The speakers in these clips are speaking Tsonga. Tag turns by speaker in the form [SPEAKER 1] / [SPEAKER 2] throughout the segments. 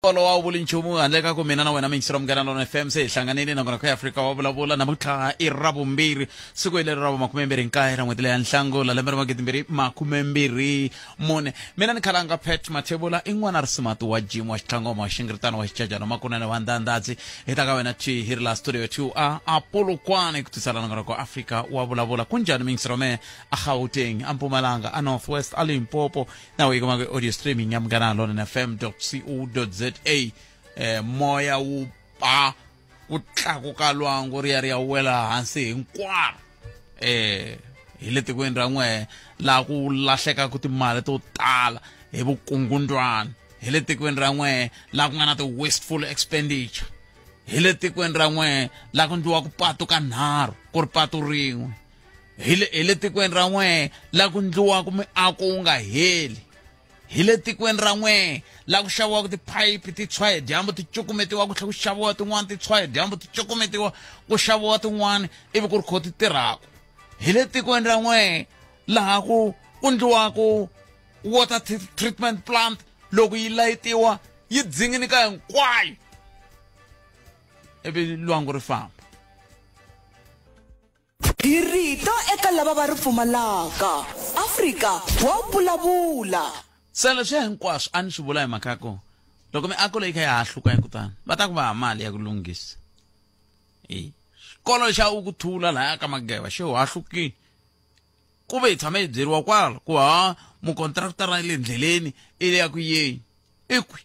[SPEAKER 1] bolo wa vuli nchumu handle ka ku mina na wena mingisiro munghana lona fm se hi hlanganile nakona kha afrika wa vulavula namuntlha i ra vumbirhi siku hileri ra makume mbirhi nkaye ra n'hweti leya nhlangula lembe ra magidi mbirhi makume mbirhi mune mina ni khalanga pet mathevula i n'wana risimati wa jim wa xitlangoma wa xingiritano wa xicajana makunene wa ndandadzi hi ta ka wena ti hi ri la studio two a apolokwane ku tisala nakona ku afrika wa vulavula ku njhani mingisiro me a gauteng a mpumalanga a northwest a limpopo nawe ikoma kwi-audio streaming ya mngana london fm co za eh, moya wu ba ku tlakuka lwangu ri ya ri ya wela hansi hinkwaro eh hi le tikweni ra n'wehe laha ku lahlekaka timali to tala hi vukungundwana hi le tikweni ra n'wehe laha ku nga na ti-wasteful expenditure hi le tikweni ra n'wehe laha ku ndliwaka patu ka nharhu ku ri patu rin'we hi le hi le tikweni ra n'wee la ku ndliwaka miako wu nga heli hi le tikweni ra n'wee la ku xaviwaka tiphayiphi ti tshwa hi dyambu ti cukumetiwa ku tlhela ku xaviwa tin'wana ti tshwa hi dyambu ti cukumetiwa ku xaviwa tin'wana ivi ku ri kho ti tirhaka hi le tikweni ra n'wee laha ku ku ndliwaka water treatment plant loko yi layitiwa yi dzinginika hinkwayo ivi lwangu ri famba
[SPEAKER 2] Hi rito eka lava va ri pfumalaka. Afrika wa vulavula. Se leswi
[SPEAKER 1] hinkwaswo a ni swi vula hi mhaka ya ku loko miako leyi kha ya ha hluka hi kutani va ta ku va mali ya ku lunghisa e xikolo xa u ku thula lahaya ka mageva xi ha hlukile ku ve hi tshame hi byeriwa kwala ku ha mukontraktara le ndleleni i le ya ku yeni i kwi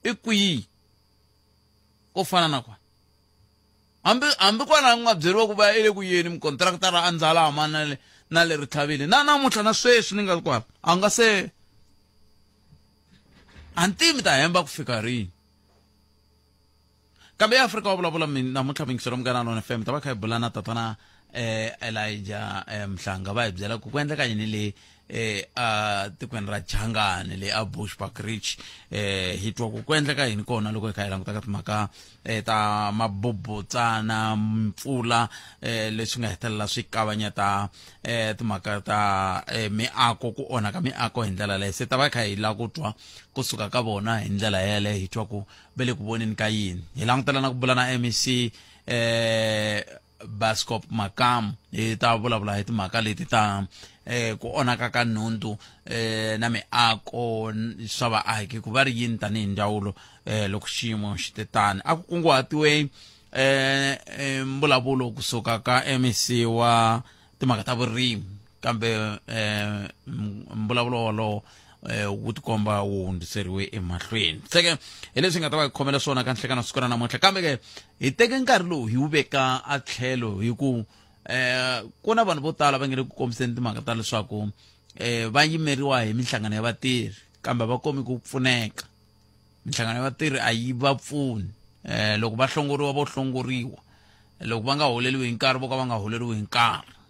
[SPEAKER 1] i kwihi ko fana na kwani Hambi, hambi kwala a ku nga byeriwa ku va i le ku yeni, mukontrakitara a ndzala a mana le, na le ritlhavini. Na namuntlha na sweswi ni nga ri kwala, a nga se. A ni tivi mi ta hemba ku fika rini. Kambe eAfrika wa vulavula mi, namuntlha mi yingisela Munghana Lonene FM, mi ta va kha hi bula na Tatana eh Elijah eh, Mhlanga va hi byela ku ku endleka yini le eh a tikweni ra Changane le a Bushbuck Ridge eh hi twa ku ku endleka yini kona loko hi kha hi languta ka timhaka eh ta mabobotsana mpfula eh leswi nga hetelela swi kavanyeta eh timhaka ta eh, miako ku onhaka miako hi ndlela leyi se ta va hi kha hi la ku twa kusuka ka vona hi ndlela yeleyo hi twa ku ve le ku voneni ka yini hi langutela na ku bula na mec eh Bascop Makamu hi ta vulavula hi timhaka leti ta eh ku onaka ka nhundu eh na miako swa vaaki ku va ri yini tanihi ndzawulo eh loko xiyimo xi te tani a ku kunguhatiwe eh mbulavulo kusuka ka MEC wa timhaka ta vurimi kambe um mbulavulo wolowo Eh, wu tikomba wu hundziseriwe emahlweni seke hi leswi nga ta va hi khomela swona ka nhlekana siku ra namuntlha kambe ke hi teke nkarhi lowu hi wu veka a tlhelo hi ku um eh, ku na vanhu vo tala va nge le ku kombiseni timhaka ta leswaku um va yimeriwa hi minhlangano ya vatirhi kambe va komi ku pfuneka minhlangano ya vatirhi a yi va pfuni um loko va hlongoriwa vo hlongoriwa loko va nga holeriwi hi nkarhi vo ka va nga holeriwi hi nkarhi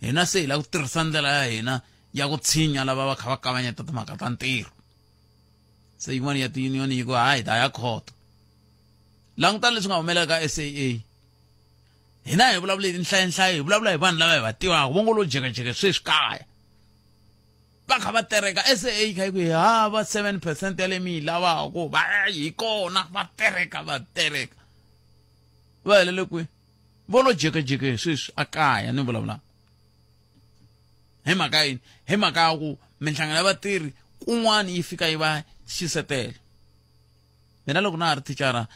[SPEAKER 1] hina se hi lava ku tirhisa ndlela ya hina ya ku tshinya lava va kha va kavanyeta timhaka ta ntirho se yin'wana ya ti-union yi ku hayi ta ya khoto languta leswi nga humelela ka s a a hina hi vulavula hi tinhlayanhlayo hi vulavula hi vanhu lava hi va tivaka vo ngo lo jekajeke sweswi kaya va kha va tereka s a a kha yi ku hi hava seven percent ya le mi yi lavaka va hi kona va tereka va tereka va helele kwihi vo lo jekejeke sweswi a kaya ni vulavulaka hi mhaka yini hi mhaka ya ku minhlangano ya vatirhi kun'wana yi fika yi va xisetela mina loko na ha ri thicara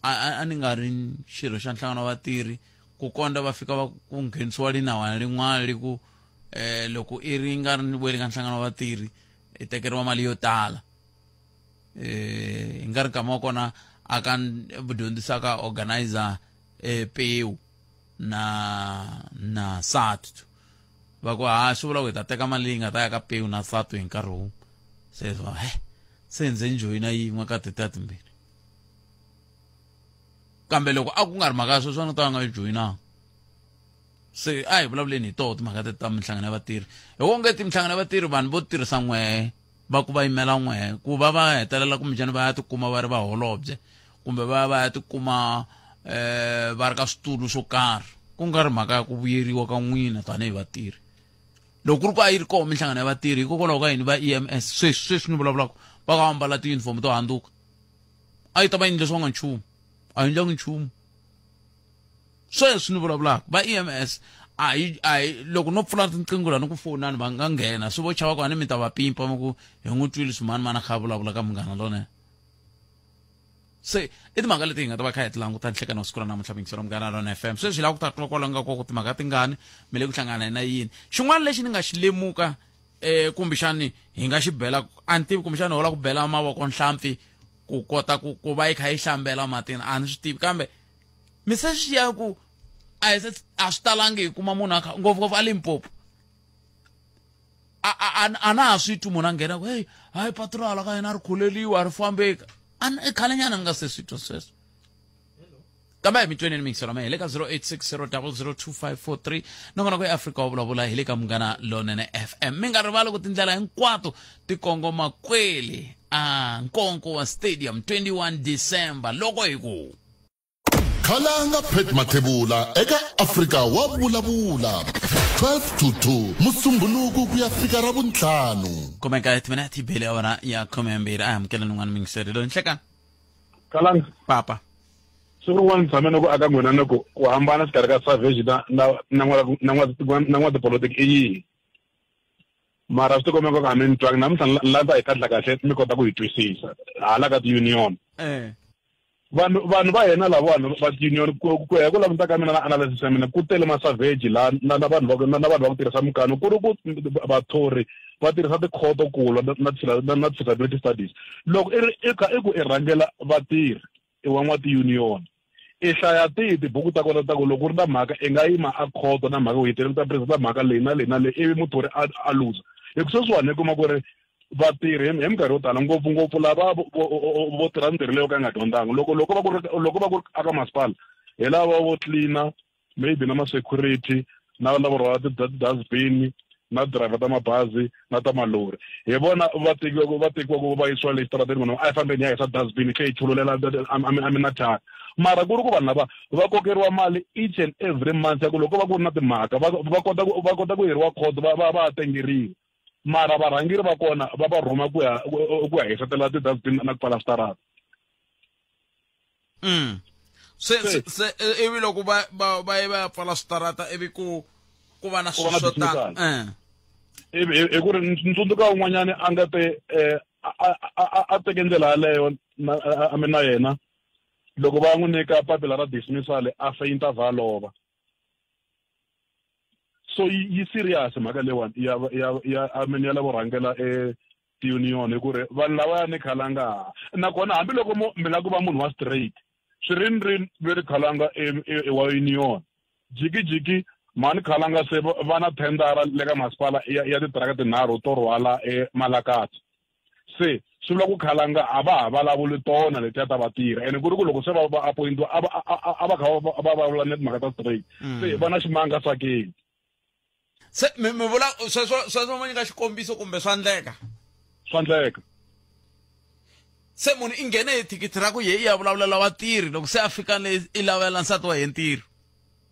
[SPEAKER 1] a ni nga ri xirho xa nhlangano wa vatirhi ku kondza va fika va ku nghenisiwa linawana lin'wana li ku um loko i ri nga ri ni vuyeli ka nhlangano wa vatirhi i tekeriwa mali yo tala eh, hi nga ri kama wa kona a ka dyondzisaka organizer eh, pewu na na satu va ku ha swi vula ku hi ta teka mali yi nga ta ya ka pewu na satu hi nkarhi wun'we se va he se ndze njoyina yin'we ka tete ya timbirhi kambe loko a ku nga ri mhaka ya sweswi a ni ta va nga yi joyinanga se a hi vulavuleni hi toho timhaka teti ta minhlangano ya vatirhi hi wonge ti minhlangano ya vatirhi vanhu vo tirhisa n'wee va ku va yimela n'we ku va va hetelela kumbexani va ya tikuma va ri vaholobye kumbe va ya va ya tikuma eh va ri ka switulu swo karhi ku nga ri mhaka ya ku vuyeriwa ka n'wina tanihi vatirhi loko ku ri ku a yi ri koho minhlangano ya vatirhi hikokwalaho ka yini va e m s sweswi sweswi ni vulavulaka va ka va mbala tiyunifomo to handzuka a yi ta va yini leswi va nga nchumu a yi ndlangi nchumu sweswi ni vulavulaka va ems a hi a hi loko no pfula tinqingo la ni ku fonani va nga nghena swi vo chava ku a ni mi ta va pimpa mi ku hi n'wi twile swimani mana kha vulavula ka munghana lone se i timhaka leti hi nga ta va kha hi ti languta nhlekani wa siku ra namuntlha mingiselo munghana lona f m sweswi hi lava ku ta twa kwala nga koko timhaka tingani mi le ku hlangana hi na yini xin'wana lexi ni nga xi lemuka um eh, kumbexani hi nga xi bela a ni tivi kumbexani ho la ku bela mavoko nhlampfi ku kota ku ku va yi kha yi hlambela matini a ni swi tivi kambe mi se swi ya ku a hi se a swi talangi hi kuma munhu akha ngopfungopfu a limpopo a na ha swi twi munhu a nghena ku heyi hayi patrola ka yena a ri khuleliwa a ri fambeka a i khale nyana ni nga se swi twa sweswo kambe hi mi tweneni mingiselo ma hi le ka 0860002543 nongona ku eafrika wa vulavula hi le ka munghana lonene fm mi nga rivali ku tindlela hinkwato ti kongoma kwele a nkonko wa stadium 21 december loko hi ku Khalanga
[SPEAKER 3] Pat Mathebula eka Afrika wa Vulavula, 12 to 2, Musumbhunuku ku ya fika ra Vuntlhanu. kumeka timinete
[SPEAKER 1] bele ya wena ya khume yambirhi a hi amukela nin'wana mingiseri loyi nhlekani kalanga
[SPEAKER 4] papa
[SPEAKER 1] siku rin'wana
[SPEAKER 4] ni tshame ni ku aka n'wina ni ku ku hambana xikarhi ka savage na na na n'wa- na n'wa- na n'watipolotiki i yini mara swi tikomeka ku a mi ni twangi namuntlha ni la- ni landza hi kahle kahle mi kota ku yi twisisa hala ka ti-union eh Vanhu vanhu va hina lavawani va tiunion ku ku ya hi ku languta ka mina na analysis ya mina ku tele masavheji laha na na vanhu va na na vanhu va ku tirhisa mikano ku ri ku vathori va tirhisa tikhoto ku lwa na na na disability studies loko i ri i kha i ku i rhangela vatirhi i wa n'wa tiunion i hlaya tihi tibuku ta kona ta ku loko u ri na mhaka i nga yima a khoto na mhaka u yi tirhisa ta presa ta mhaka leyi na leyi na leyi ivi muthori a a luza hi ku sweswiwani i kuma ku ri vatirhi hi minkarhi yo tala ngopfungopfu lava vo tirha mintirho leyo ka yi nga dyondzanga loko loko va ku ri loko va ku ri aka masipala hi lava vo tlilina maybe na ma-security na lavo rhwala ti-dustbin na driver ta mabazi na ta malori hi vona va tekiwaka va tekiwaka va yisiwa le xitarateni vona a yi fambeni ya hisa dustbin tlhe yi chululela a mi na thyaka mara ku ri ku vanhu lava va kokeriwa mali each and every month ya ku loko va ku ri na timhaka va va kota ku va kota ku yeriwa court va va va tengeriwa mara varhangeri va kona va va rhuma ku ya ku ya hisetela ti-dustbin na ku pfala switarata mm.
[SPEAKER 1] se se, se e, ivi loko va va va ye va ya pfala switarata ivi ku ku va na swilo swo tala eh. hi
[SPEAKER 4] ku ri ni tsundzuka un'wanyana a nga te um a teke ndlela yaleyo a mi na yena loko va n'wi nyika papila ra dismissal a feyinta valova so yi serious mhaka leyiwani ya ya ya i mean ya lavo rhangela e tiunion hi ku ri vanhu lava ya ni khalanga nakona hambiloko mo mi la ku va munhu wa straight swi ri ni ri ve ri khalanga e, e, e wa union jikijiki mani khalanga se va na thendara le ka masipala ya ya titiraka tinharhu to rhwala emalakati se swi vula ku khalanga a va ha vulavuli tona leti a ta va tirha ene ku ri ku loko se va va appointiwa a va a va kha va vulavula ni timhaka ta straight mm. se va na ximanga swa keni
[SPEAKER 1] se mi mi vula sweswo sweswo ma nyika xikombiso kumbe swa ndleka swa ndleka se munhu i nghene hi thikithi ra ku ye i ya vulavulela vatirhi loko se a fika le i lavela nsati wa ye ntirho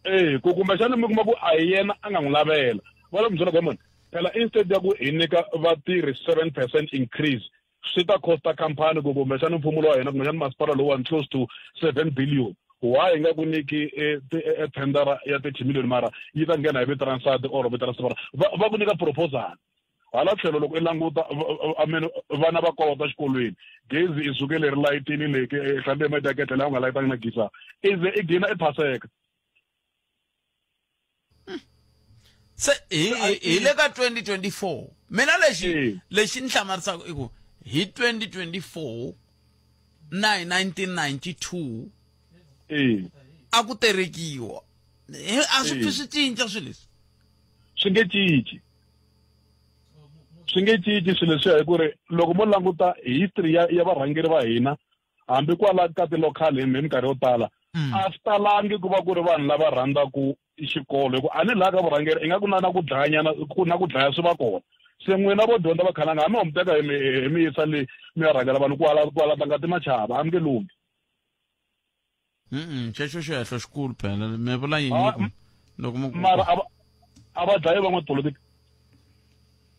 [SPEAKER 1] e ku
[SPEAKER 4] kumbexana mi kuma ku a hi yena a nga n'wi lavela va le ku byela kwamani phela instead ya ku hi nyika vatirhi seven percent increase swi ta costa company ku kumbexana mfumo lowa hina kumbexana masipala lowani close to seven billion wa hi nga ku nyiki e, e, e tendera ya thirty million mara yi ta nghena hi vito ra nsati or vito ra sipara va ku nyika proposal hala tlhelo loko i languta amene vana va kolota xikolweni gezi i suke leri layitini leke ehlambi ya mataketla laha u nga layitanga na gisa i ze i gina i phaseka
[SPEAKER 1] se hi le ka 2024 mina lexi lexi ni hlamarisaka i ku hi 2024 na hi 1992 a ku terekiwa a swi pfi swi cinca swilo leswi swi nge
[SPEAKER 4] cinci swi nge cinci swilo leswiya hi ku ri loko mo languta history ya ya varhangeri va hina hambi kwala ka ti-local hi minkarhi yo tala mm. a swi talangi ku va ku ri vanhu lava rhandzaka xikolo hikuva a ni laha ka vurhangeri i nga ku na na ku dlayanyana ku na ku dlaya swi va kona se n'wina vo dyondza va khalanga hambi homuteka hi mi yisa le mi ya rhangela vanhu kwala kwala ta nga ti machava a mi nge lunghi Mm-mm,
[SPEAKER 1] xexo xihehlo xikulu phela mi vula yini Ah, loko- m- loko mu mara a
[SPEAKER 4] va- a va dlaye van'watipolitiki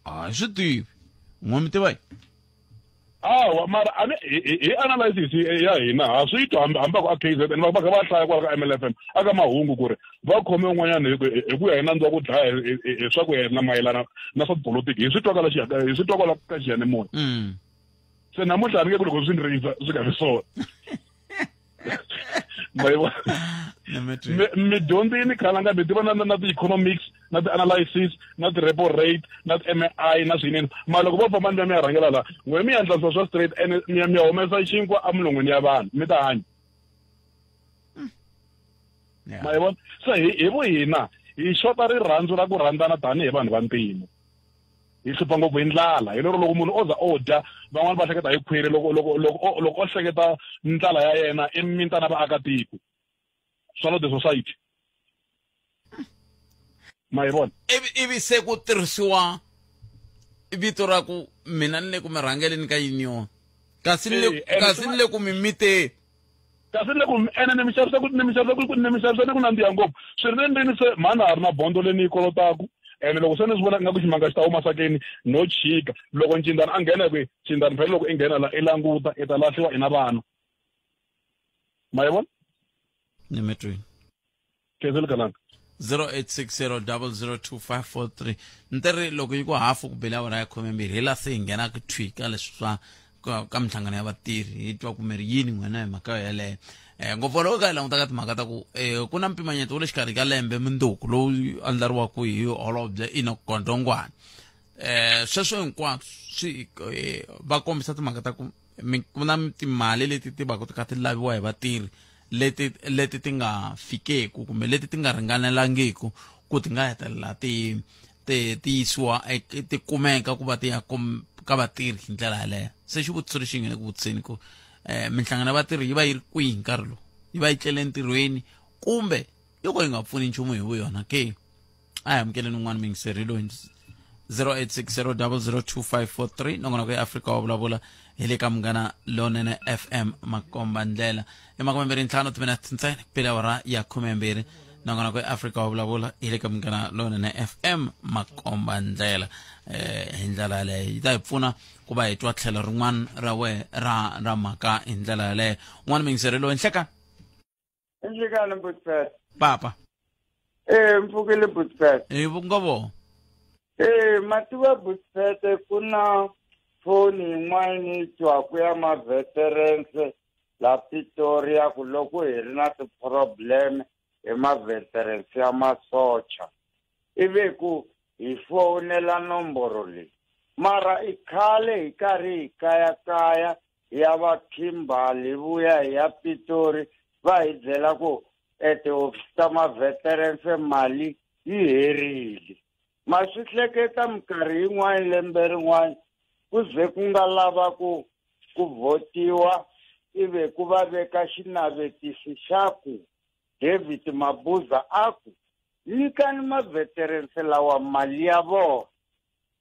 [SPEAKER 1] hayi swi tivi n'we mi tiva yi
[SPEAKER 4] awa mara a ni- hi- hi hi analysis y- ya hina ha swi twa hambi hambi a ku a kzn va va kha va hlaya kwala ka mlfm a ka mahungu ku ri va khome un'wanyana hi ku- hi- hi ku ya hi nandzu wa ku dlaya hi- hi- hi- hi swa ku yena mayelana na swa tipolitiki hi swi twa kwala xi- hi swi twa kwala ka xiyanimoya Mm. se namuntlha a ni nge ku loko swi ni rindza swi nga ri swona midyondzi yi ni khalanga mi tiva na na ti-economics na ti-analysis na ti-repo rate na ti-mi na swinene mara loko vo famba ni va mi ya rhangela laha n'we mi yandlanisa swa straight ene mi ya mi ya humesa xinkwa emilon'wini ya vanhu mi ta hanya hmm. ma yi vona se hi hi vu hina hi xota rirhandzu ra ku rhandzana tanihi vanhu va mpimo hi hlupha ngopfu hi ndlala hi lero loko munhu o za o dya van'wani va hleketa hi khwiri loko loko loko loko o hleketa ndlala ya yena i mintana vaakatiko swa lo the society ma hi vona ivi se ku
[SPEAKER 1] tirhisiwa vito ra ku mina ni le ku mi rhangeleni ka yini yona kasi ni le kasi ni le ku mi miteni Kasi ni
[SPEAKER 4] ku, Ene ni mi xavisa ku, ni mi xavisa ku, ni mi xavisa ni ku nandziha ngopfu. Swi ri endlwini se, mhani na ha ri na bondho leyi ni yi kolotaku, ene loko se ni swi vona ingaku ximanga xi ta huma sakeni, no chika. Loko ncindzani a nghena, hi ku, Ncindzani phela loko i nghena la, i languta, i ta lahliwa i na vana. Ma yi vona? Ni mi
[SPEAKER 1] twile.
[SPEAKER 4] ke se
[SPEAKER 1] le kanaka 0860002543 ntirhi loko yi ku hafu ku bele awara ya khomembirhi hi la se hi nghena ku thwi ka leswi swa ka minhlangano ya vatirhi hi twa kumeri yini n'wina hi mhaka yeleyo um ngopfu loko ka hi languta ka timhaka ta ku um ku na mpimanyeto wa le xikarhi ka lembe munduku lowu andlariwaka hi holobye ina gondongwana um sweswo hinkwaswo swi va kombisa timhaka ta ku ku na timali leti ti va ku ti kha ti laviwa hi vatirhi leti leti ti nga fikeku kumbe leti ti nga ringanelangiku ku ti nga hetelela ti ti ti yisiwa e, ti kumeka ku va ti ya ka vatirhi hi ndlela yaleyo se xivutiso lexi nge le ku vutiseni ku um minhlangano ya vatirhi yi va yi ri kwihi nkarhi lowu yi va yi tlele entirhweni kumbe yo ka yi nga pfuni nchumu hi vu yona ke a hi amukeleni un'wana mingiseri loyi 0860002543 nongona ku ya afrika wa vulavula hi le ka munghana lonene fm makomba ndlela i makumembirhi ntlhanu timinete ntsena pele awara ya khumembirhi nongona ku ya afrika wa vulavula hi le ka munghana lonene fm makomba ndlela eh hi ndlela yaleyo yi ta hi pfuna ku va hi twa tlhelo rin'wana ra we ra ra mhaka hi ndlela yaleyo un'wana mingiseri loyi nhleka Injikani mbutfet.
[SPEAKER 5] papa
[SPEAKER 1] Eh
[SPEAKER 5] mfukile mbutfet. e vungovo
[SPEAKER 1] Eh
[SPEAKER 5] mativa mbutfet kuna phone yin'wana twaku ya ma veterans la Pretoria ku loko hi ri na ti problem hi ma veterans ya masocha. Ivi ku hi fonela nomboro leyi. Mara i khale hi karhi hi kaya kaya hi ya va kimbal hi vuya hi ya pitori va hi byela ku e tihofisi ta maveterense mali yi herile ma swi hleketa minkarhi yin'wana lembe rin'wana ku ze ku nga lava ku ku votiwa ive ku va veka xinavetisi xa ku david mabuza a ku nyikani maveterense lawa mali ya vona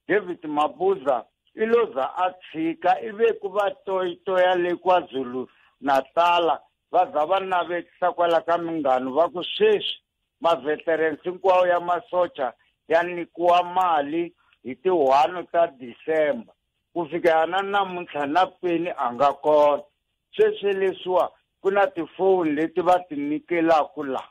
[SPEAKER 5] David Mabuza i lo za a tshika ivi ku va toyitoya le KwaZulu Natala va za va navetisa kwala ka minghano va ku sweswi maveterans hinkwawo ya masocha ya nyikiwa mali hi ti one ta December ku fikela na namuntlha na peni a nga kona sweswi leswiwa ku na tifoni leti va ti nyikelaku la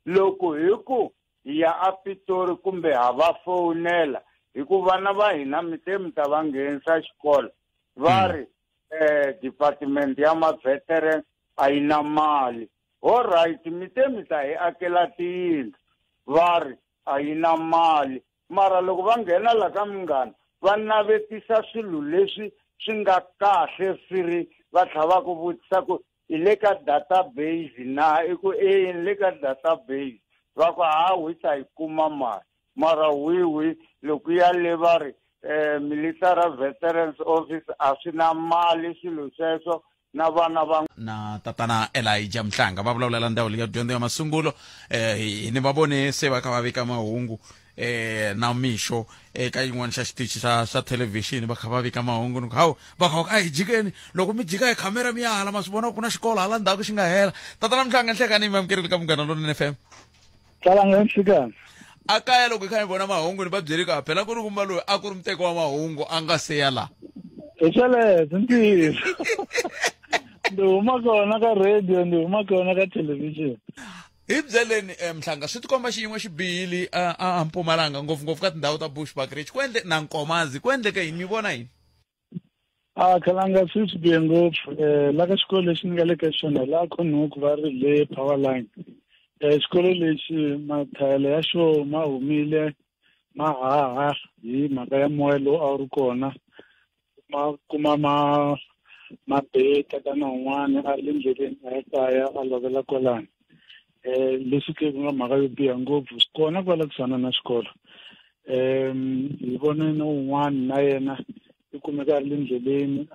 [SPEAKER 5] Loko hi ku hi ya aPitori kumbe ha va fowunela hi ku vana va hina mi te mi ta va nghenisa xikolo va hmm. ri um department ya maveteran a yi na mali all right mi te mi ta hi akela tiyindlu va ri a yi na mali mara loko va nghena la ka munghana va navetisa swilo leswi swi nga kahle swi ri va tlhela va ku vutisa ku i le ka database na i ku e ni le ka database va ku ha wi ta yi kuma mali mara wiwi loko ya le va ri um military veterans office a swi na mali swilo sweswo na vana va na tatana
[SPEAKER 1] elija mhlanga va vulavulela ndhawu leyi ya dyondzo ya masungulo um hi ni va vone se va kha va vika mahungu eh na mixo eka yin'wana xa xitichi xa xa thelevhixini va kha va vika mahungu ni ku hawu va kha a hi jikeni loko mi jika hi khamera mi ya hala ma swi vona ku na xikolo hala ndzhaku xi nga hela tatana mhlanga nhlekani mi amukerile ka munghana lonene fm tsalanga
[SPEAKER 6] nhlekani a kaya loko
[SPEAKER 1] hi kha hi vona mahungu ni va byeli ku phela ku ri kumba loyi a ku ri muteko wa mahungu a nga se ya laha hi sweleswo
[SPEAKER 6] ntiyiso ndi huma kona ka radio ndi huma kona ka thelevhixini hi byeleni
[SPEAKER 1] um nhlanga swi tikomba xiyin'we xi bihile a mpumalanga ngopfungopfu ka tindhawu ta bush bagrich ku endle na nkomazi ku endleke yini mi vona yini a
[SPEAKER 6] khalanga swi swi bihe ngopfu um la ka xikolo lexi ni nga le ka xona la khonhuku va ri le power line um xikolo lexi mathayele ya xo ma humile ma haha hi mhaka ya moya lowu a wu ri kona ma kuma ma mabeta kana un'wana a ri le ndleleni a ya kaya a lovela kwalani um leswi ke ku nga mhaka yo biha ngopfu swi kona kwala kusuhana na xikolo um hi vone na un'wana na yena i kumeka a ri le ndleleni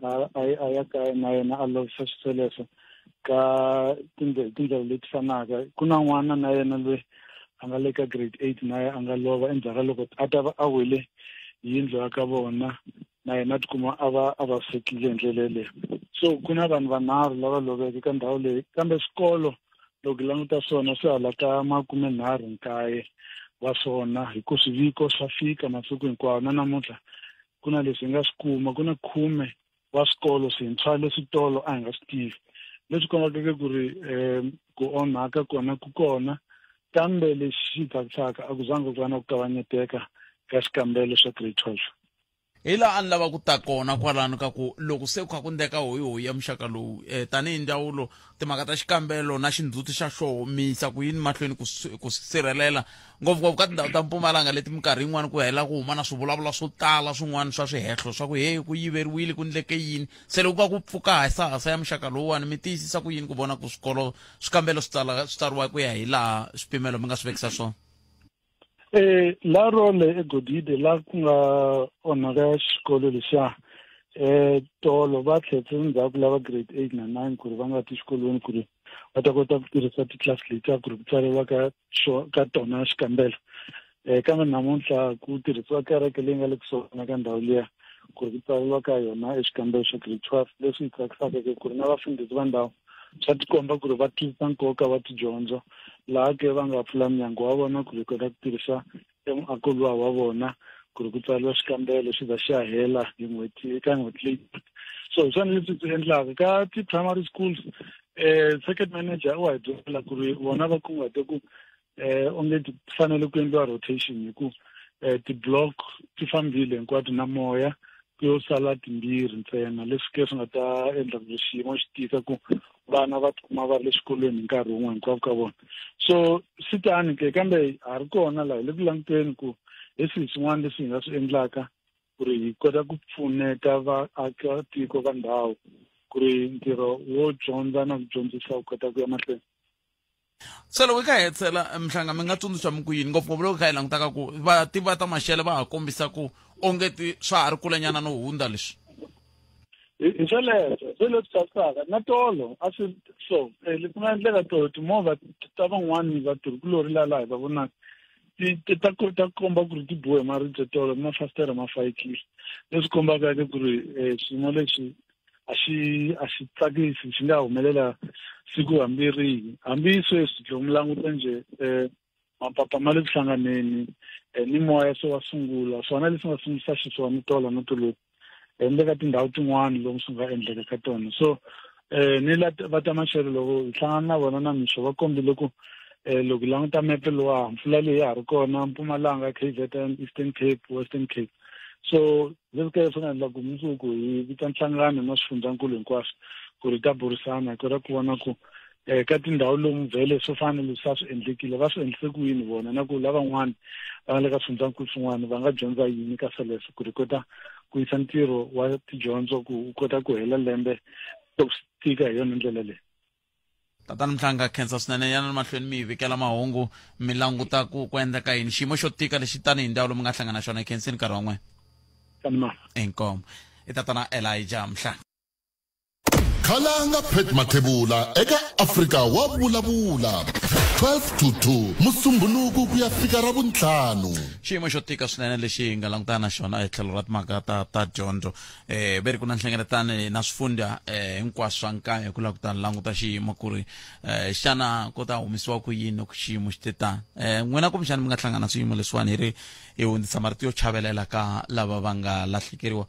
[SPEAKER 6] a ya kaya na yena a lovisa xisweleswo ka tindlela tindlela leti fanaka ku na n'wana na yena lweyi a nga le ka grade eight na ye a nga lova endzhaku ka loko a ta va a wele hi yindlu ya ka vona na yena a tikuma a va a vavisekile hi ndlela yeleyo so ku na vanhu vanharhu lava loveke ka ndhawu leyi kambe swikolo loko hi languta swona swi hala ka makume nharhu nkaye wa swona hi ku swiviko swa fika masiku hinkwawo na namuntlha ku na leswi hi nga swi kuma ku na khume wa swikolo swintshwa leswi tolo a hi nga swi tivi leswi kombakeke ku ri um ku onhaka kona ku kona kambe lexi xi tsakisaka a ku zangi ku va na ku kavanyeteka ka xikambelo xa grade twelve hi laha
[SPEAKER 1] a ni lava ku ta kona kwalano ka ku loko se ku kha ku ndeka hoyihoyi ya muxaka lowu um tanihi ndzawulo timhaka ta xikambelo na xindzhuti xa xoho mi yisa ku yini mahlweni ku swi ku swi sirhelela ngopfungopfu ka tindhawu ta mpumalanga leti minkarhi yin'wana ku hela ku huma na swivulavula swo tala swin'wana swa swihehlo swa ku he ku yiveriwile ku ndleke yini se loko ku va ku pfuka hasahasa ya muxaka lowuwani mi tiyisisa ku yini ku vona ku swikolo swikambelo swi tsala swi tsariwa ku ya hi laha swipimelo mi nga swi vekisa swona Eh
[SPEAKER 6] la role egodide la ku nga onhaka xikolo lexiya eh tolo va tlhetse ndzhaku lava grade eight na nine ku ri va nga ti xikolweni ku ri va ta kota ku tirhisa titlasi letiya ku ri ku tsariwa ka ka tona xikambelo um kambe namuntlha ku tirhisiwa kereke leyi nga le kusuhana ka ndhawu liya ku ri ku tsariwa ka yona exikambelo xa grade twelve leswi hi tsakisaka ke ku ri na vafundhisi va ndhawu swa tikomba ku ri va tisa nkoka wa tidyondzo laha ke va nga pfula mnyango wa vona ku ri kota ku tirhisa emuako luwa wa vona ku ri ku tsariwa xikambelo xi za xi ya hela hi n'hweti eka n'hweti leyi so hi swona leswi swi endlaka ka ti-primary schools um circuit manager u wa hi byela ku ri vona va kunguhate ku eh onge ti fanele ku endliwa rotation hi ku eh ti-block ti fambile hinkwato na moya ku yo sala timbirhi ntsena leswi ke swi nga ta endla ku xiyimo xi tika ku vana va tikuma va ri le xikolweni hi nkarhi wun'we hinkwavo ka vona so swi tani ke kambe ha ri kona laha hi le ku languteni ku hi swihi swin'wana leswi hi nga swi endlaka ku ri hi kota ku pfuneta vaakatiko va ndhawu ku ri ntirho wo dyondza na ku dyondzisa wu kota ku ya mahlweni
[SPEAKER 1] se loko hi ka hetsela mhlanga mi nga tsundzuxa mi ku yini ngopfungopfu loko hi kha hi langutaka ku vativi va ta maxele va ha kombisa ku onge ti swa ha ri kulenyana no hundza leswi
[SPEAKER 6] hi sweleswo se leswi tsakisaka na tolo a swi so eh, leswi nga endleka tolo timovha ta van'wani vatirhikulori la laha hi va vonaka ti ta ku ta komba ku ri ti bohe maribye tolo mafasitere ma fayikile leswi kombaka ke ku ri um swiyimo leswi a xi a xi tsakisi xi nga humelela siku hambi rihi hambi sweswi loko mi languta njhe um mapapa ma le ku hlanganeni um ni moya se wa sungula swona leswi nga sungulisa xiswona ni tolo no toloku ende ka tindhawu tin'wana lomu swi nga endleka ka tona so um ni la va ta maxelo loko hi hlangana na vona na mixo va kombile ku um loko hi languta mepe lowa mpfula leyi ya ha ri kona mpumalanga k z n eastern cape western cape so Leswi kahle swi nga endla ku mundzuku hi vita nhlangano na swifundzankulu hinkwaswo ku ri ta burisana hi kota ku vona ku um ka tindhawu lomu vhele swo fana na leswi a swi endlekile va swi endlise ku yini vona na ku lavan'wana va nga le ka swifundzankulu swin'wana va nga dyondza yini ka sweleswo ku ri kota ku yisa ntirho wa tidyondzo ku wu kota ku hela lembe to tika hi yona ndlela leyi tatani
[SPEAKER 1] mhlanga khensa swinene yana mahlweni mi hi vikela mahungu mi languta ku ku endleka yini xiyimo xo tika lexi tani hi ndhawu lomi nga hlangana xona hi khensini nkarhi wa n'wina inkomo i tatana elija mhlanga
[SPEAKER 3] khalanga pet mathebula eka afrika wa vulavula 12 to 2 musumbunuku ku ya fika ra vuntlhanu xiyimo xo tika
[SPEAKER 1] swinene lexi hi nga langutana na xona etlhelo ra timhaka ta ta dyondzo eh ve ri ku na nhlengeletano na swifundza eh hinkwaswo swa nkaya hi ku lava ku ta languta xiyimo ku ri eh xana ko ta humisiwa ku yini loko xiyimo xi te tani eh n'wina kumbexana mi nga hlangana swiyimo leswiwani hi ri hi hundzisa marito yo chavelela ka lava va nga lahlekeriwa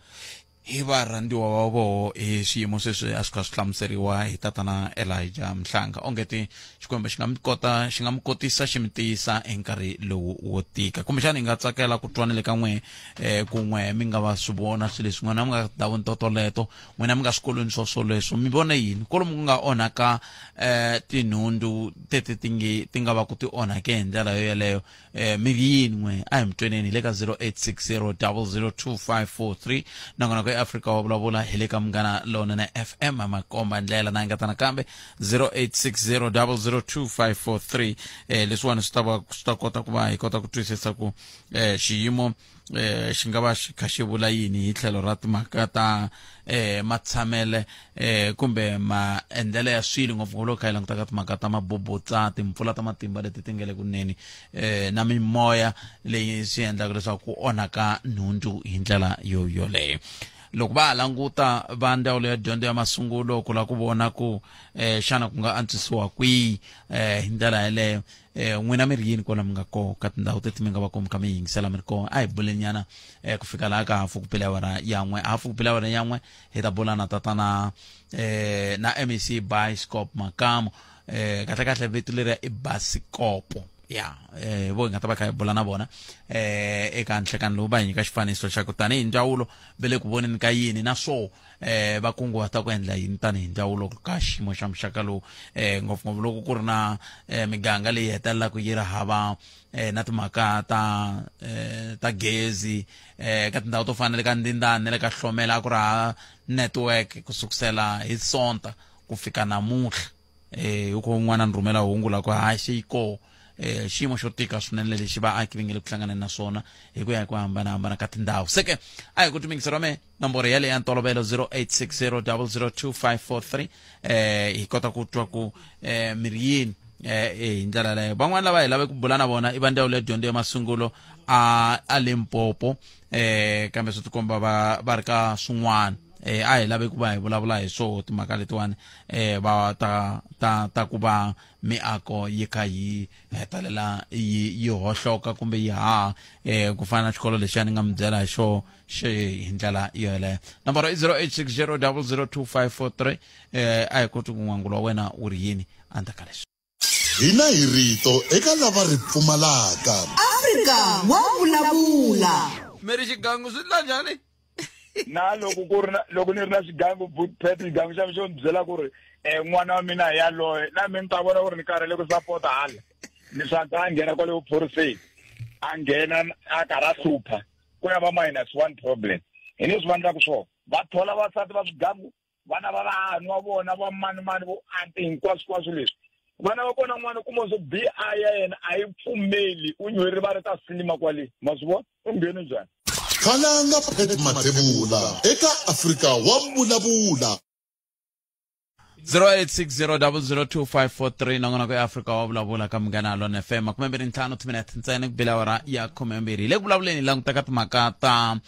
[SPEAKER 1] hi varhandziwa va voho hi swiyimo sweswi a swi kha swi hlamuseriwa hi tatana elija mhlanga ongeti xikwembu xi nga mi kota xi nga mi kotisa xi mi tiyisa hi nkarhi lowu wo tika kumbexana hi nga tsakela ku twa ni le ka n'wehe eh kun'we mi nga va swi vona swilo leswi n'wina mi nga tindhawini totoleto n'wina mi nga swikolweni swoswoleswo mi vone yini kolomu ku nga onhaka eh tinhundzu tete ti nge ti nga va ku ti onhake hi ndlela yo yeleyo eh mi yini n'we a hi mi tweneni hi le ka 0860002543 nakona ku eafrika wa vulavula hi le ka munghana lonene fm makomba ndlela na engetana kambe 0860002543 eh leswiwani swi ta va swi ta kota ku va hi kota ku twisisa ku eh xiyimo eh xi nga va xi kha xi vula yini hi tlhelo ra timhaka ta eh matshamele eh kumbe maendlelo ya swilo ngopfungopfu loko kha yi languta ka timhaka ta mabubutsa timpfula ta matimba leti ti nga le kuneni eh na mimoya leyi swi endlaka leswaku ku onhaka nhundzu hi ndlela yo yoleyo loko va ha languta va ndzawulo ya dyondzo ya masungulo ku lava ku vona ku um xana ku nga antswisiwa kwihi um hi ndlela yeleyo eh, n'wina mi ri yini kwala mi nga kona ka tindhawu teti mi nga va komi kha mi yingisela mi ri kona a hi bulenyana um eh, ku fika laha ka hafu ku pela awara yan'we hafu ku pela awara yan'we hi ta bula na tatana um na mec biscop makamu um kahle kahle vito leriya i basikopo ya eh vo nga ta va kha hi bula na vona eh eka nhlekani lowu va hi nyika xifaniso xa ku tanihi ndzawulo ve le ku voneni ka yini na swo eh va kunguhata ku endla yini tanihi ndzawulo ka xiyimo xa muxaka lowu eh ngopfungopfu loko ku ri na eh, miganga leyi hetelelaka yi ri hava eh, na timhaka ta eh, ta gezi eh, ka tindhawu to fana le ka ndindani le ka hlomela a ku ri ha network ku sukusela hi sonta ku fika namuntlha eh u ko n'wana ni rhumela hungu la ku haxe yi koho eh xiyimo xo tika swinene lexi vaaki va nge le ku hlanganeni na swona hi ku ya hi ku hambanahambana ka tindhawu se ke a hi ku timingiseriwa me nomboro yale ya ntolovelo 0860002543 eh hi kota ku twa ku eh mi ri yini eh hi ndlela leyo van'wana lava hi lave ku bula na vona i va ndzawulo ya dyondzo ya masungulo a a limpopo eh kambe swi tikomba va va ri ka swin'wana eh a hi lave ku va hi vulavula hi swo timhaka letiwani eh, va ta ta ta ku va miako yi kha yi hetelela yi yi hohloka kumbe yi haha eh, ku fana na xikolo lexi a ni nga mi byela hi xo xi hi ndlela yo yeleyo nomboro i 0860 002 543 eh, a hi koti ku n'wangulo wa wena wu ri yini andzaka leswi Hina hi
[SPEAKER 3] rito eka lava ri pfumalaka. Afrika
[SPEAKER 2] wa vulavula. Mi ri
[SPEAKER 1] xigangu swi ndla njhani? Na
[SPEAKER 5] loko ku ri na loko ni ri na xigangu boot pet xigangu xa mi xo ni byela ku ri um n'wana wa mina yaloye na mi ni ta vona ku ri ni karhele ku sapota hala ni swa ka a nghena kwale vuphoriseni a nghena a karhi a hlupha ku ya va minus one problem hi leswi va endlaku swona va thola vasati va swigangu vana va vanhu wa vona va mani mani vo ante hinkwaswikwaswo leswi vana va kona n'wana kuma swo bi a ya yena a yi pfumeli u nywe rivala ta sinima kwale ma swi vona u ngheni njhani khalanga
[SPEAKER 3] pet mathevula eka afrika wa vulavula 0860002543
[SPEAKER 1] nangona ku africa wa vulavula ka munghana lona fm makume mbirhi ntlhanu timinete ntsena ku bela wara ya khume mbirhi hi le ku vulavuleni langutaka timhaka ta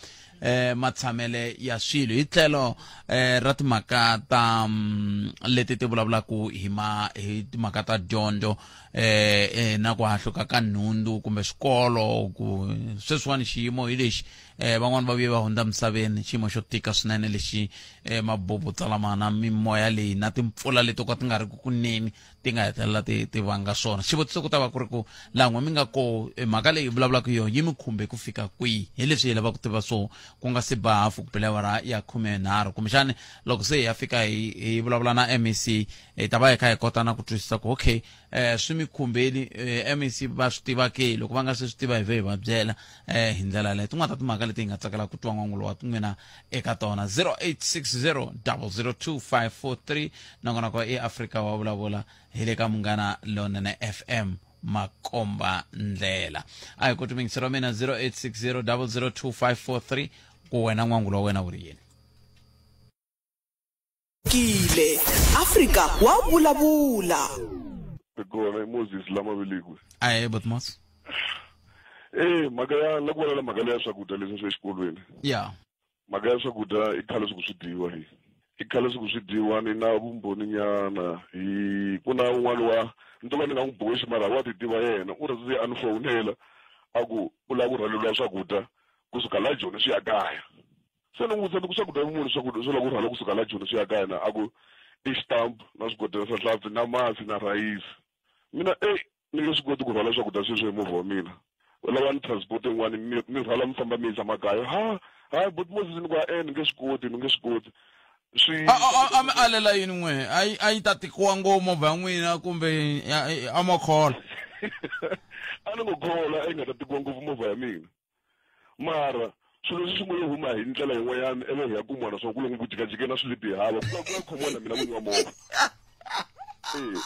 [SPEAKER 1] eh matshamele ya swilo hi tlhelo eh ra timhaka ta mm, leti ti vulavulaku hi ma hi timhaka ta dyondzo eh, eh na ku hahluka ka nhundzu kumbe swikolo ku sweswiwani xiyimo hi lexi eh van'wani va vuye va hundza misaveni xiyimo xo tika swinene lexi eh mabubu tsalamana mimoya leyi na timpfula leti ko ti nga ri ku kuneni ti nga hetelela ti ti vanga swona xivutiso ku ta va ku ri ku laha n'we mi nga ko e, mhaka leyi hi vulavulaka yona yi mi khumbe ku fika kwihi hi leswi hi lavaka ku tiva swo ku nga si ba hafu kupelewara ya khume nharhu kumbexani loko se hi ya fika hi hi vulavula na mec hi ta va hi kha hi kota na ku twisisa ku okay um swi mi khumbeli um mec va swi tiva ke loko va nga se swi tiva hi ve hi va byela um hi ndlela yaleyo tin'wana ta timhaka leti hi nga tsakela ku twa n'wangulo wa n'wina eka tona 0860 nongonoko i afrika wa vulavula hi le ka munghana lonene fm makomba ndlela a hi ku tumingisiro mina 0860 ku wena n'wangulo wa wena wu ri yini
[SPEAKER 2] kile afrika wa vulavula
[SPEAKER 7] kona moses lama velekiwe ahe botmos eh mhaka ya la ku vona la mhaka leya swakudya leswi swi exikolweni ya mhaka ya swakudya i khale siku swi dyiwa hi i khale siku swi dyiwa ni na vumbhoni nyana hi ku na un'wana wa ni to ka ni nga n'wi boxi mara wa ti tiva yena u rhandzi a ni fowunela a ku u lava ku rhwaleliwa swakudya kusuka la joni swi ya kaya Se ni n'wi vutisa ni ku swakudya muni swakudya swa loko u rhwala kusuka la Joni swi ya ka yena a ku i xitampa na swigodela swa hlampfi na masi na rhayisi mina e ni nge swi koti ku rhwala swakudya sweswo hi movha wa mina u lava ni transport yin'wani mi mi rhwala mi famba mi yisa makaya ha hayi but Moses ni ku a e ni nge swi koti ni nge swi koti swi a a- a- a mi
[SPEAKER 1] alela yini n'we a yi- a yi ta tikiwa ngo movha ya n'wina kumbe a- a- a mo khola
[SPEAKER 7] a ni ngo khola a yi nga ta tikiwa ngopfu movha ya mina mara swilo leswi swi ngo yo huma hi ndlela yin'wanyana ivi hi ya kuma naswona ku loko ku jikajike na swi le bihava ku va ku ya khomiwa na mina n'winyi wa movha ee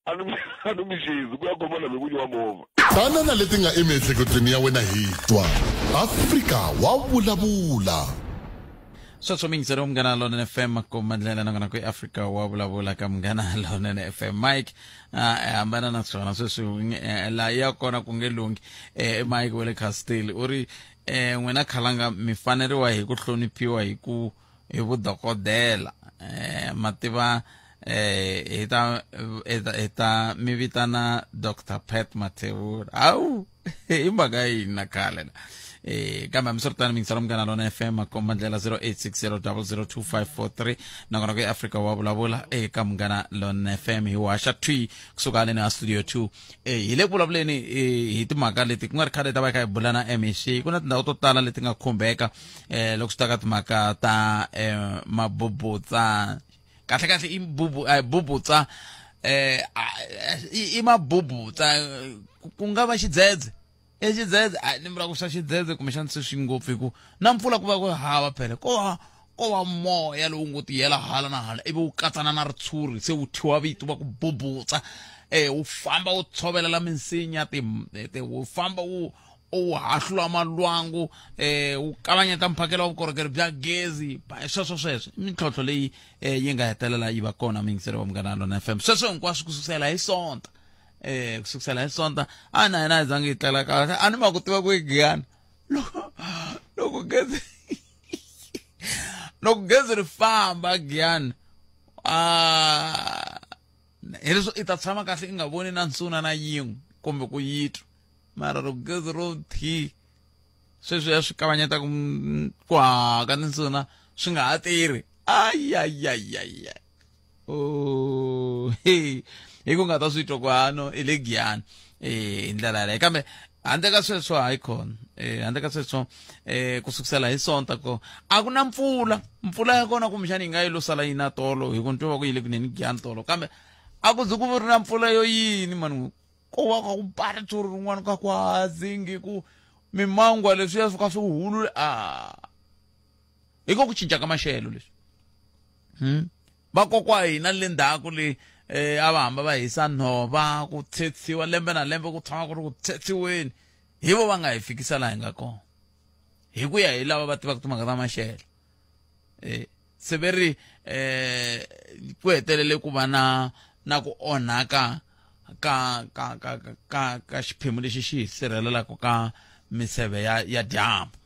[SPEAKER 7] a ni a ni mi xezi ku ya khomiwa na mina n'winyi wa movha banana leti nga
[SPEAKER 3] emiehleketweni ya wena hi twa afrika wa vulavula
[SPEAKER 1] sweswo mingiseri wa munghana lonene fm kumandlela nangona kwi-afrika wa vulavula ka munghana lonene fm mike a hi hambana na swona sweswi eh, laha ya kona ku nge lunghi eh, i mike wa le castile u ri um n'wina khalanga mi faneriwa hi ku hloniphiwa hi ku hi vudokodela um ma tiva um hi ta mi vitana dr pat mathevula hawu hi mhaka yini na khale la eh kambe hambiswiritano mingisela munghana lona fm komba ndlela 0860002543 nakona ku eafrika wa vulavula eka munghana lona fm hi waxa twi kusuka haleni ha studio 2 eh hi le ku vulavuleni eh, hi timhaka leti ku nga ri khale ta va kha hi bula na mec ku na tindhawu to tala leti nga khumbeka eh loko swi ta ka timhaka ta eh mabubutsa kahle kahle i bubu eh, bubutsa eh i mabubutsa ku nga va xidzedze e xidzedze a ni vula ku swa xidzedze kumbexana se swi ngopfu hi ku na mpfula ku va ku hava phele ko va ko va moya lowu ngo tiyela hala na hala ivi wu katsana na ritshuri se wu thyiwa vito va ku bubutsa um wu famba wu tshovelela minsinya ti wu famba wu u hahlula malwangu eh u kavanyeta mphakelo wa vukorhokeri bya gezi ba- sweswo sweswo i mintlhontlho leyi eh, yi nga hetelela yi va kona mingiseri wa munghana lona fm sweswo hinkwaswo ku sukusela hi sonta eh ku sukusela hi sonta a na yena a zangi yi tlela kahle a ni ma ku tiva ku yi giyana loko loko gezi loko gezi ri famba giyana ah hileswo i ta tshama kahle i nga voni na nsuna na yin'we kumbe ku yitwa mara loko gezi ro thi sweswi ya swi kavanyeta ku ku haha ka tinsuna swi nga ha tirhi ayayayaya o oh, hi ku nga ta swi twa ku hano i le giyani eh, hi ndlela yaleyo kambe handle ka sweswo hayi khona eh handle ka sweswo eh ku sukusela hi sonta ko a ku na mpfula mpfula ya kona kumbexana yi nga yi lo sala yi na tolo hi ku ni twa va ku yi le kuneni giyani tolo kambe a ku ze ku ri na mpfula yo yini mani ko va ka ku pari tsuri rin'wana ka ku hazingi ku mimangwa leswiya swi ka swi hulule a hi ko ku cinca ka maxelo leswi hmm? vakokwa hina le ndhaku leyi um a va hamba va hisa nhova ku tshetsiwa lembe na lembe ku tshama ku ri ku tshetsiweni hi vo va nga hi fikisa laha hi nga kona hi ku ya hi lava va tivaka timhaka ta maxelo eh, se ve ri eh, ku hetelele ku va na na ku onhaka ka ka ka ka ka xiphemu lexi xi hi sirhelelaka ka miseve ya ya dyambu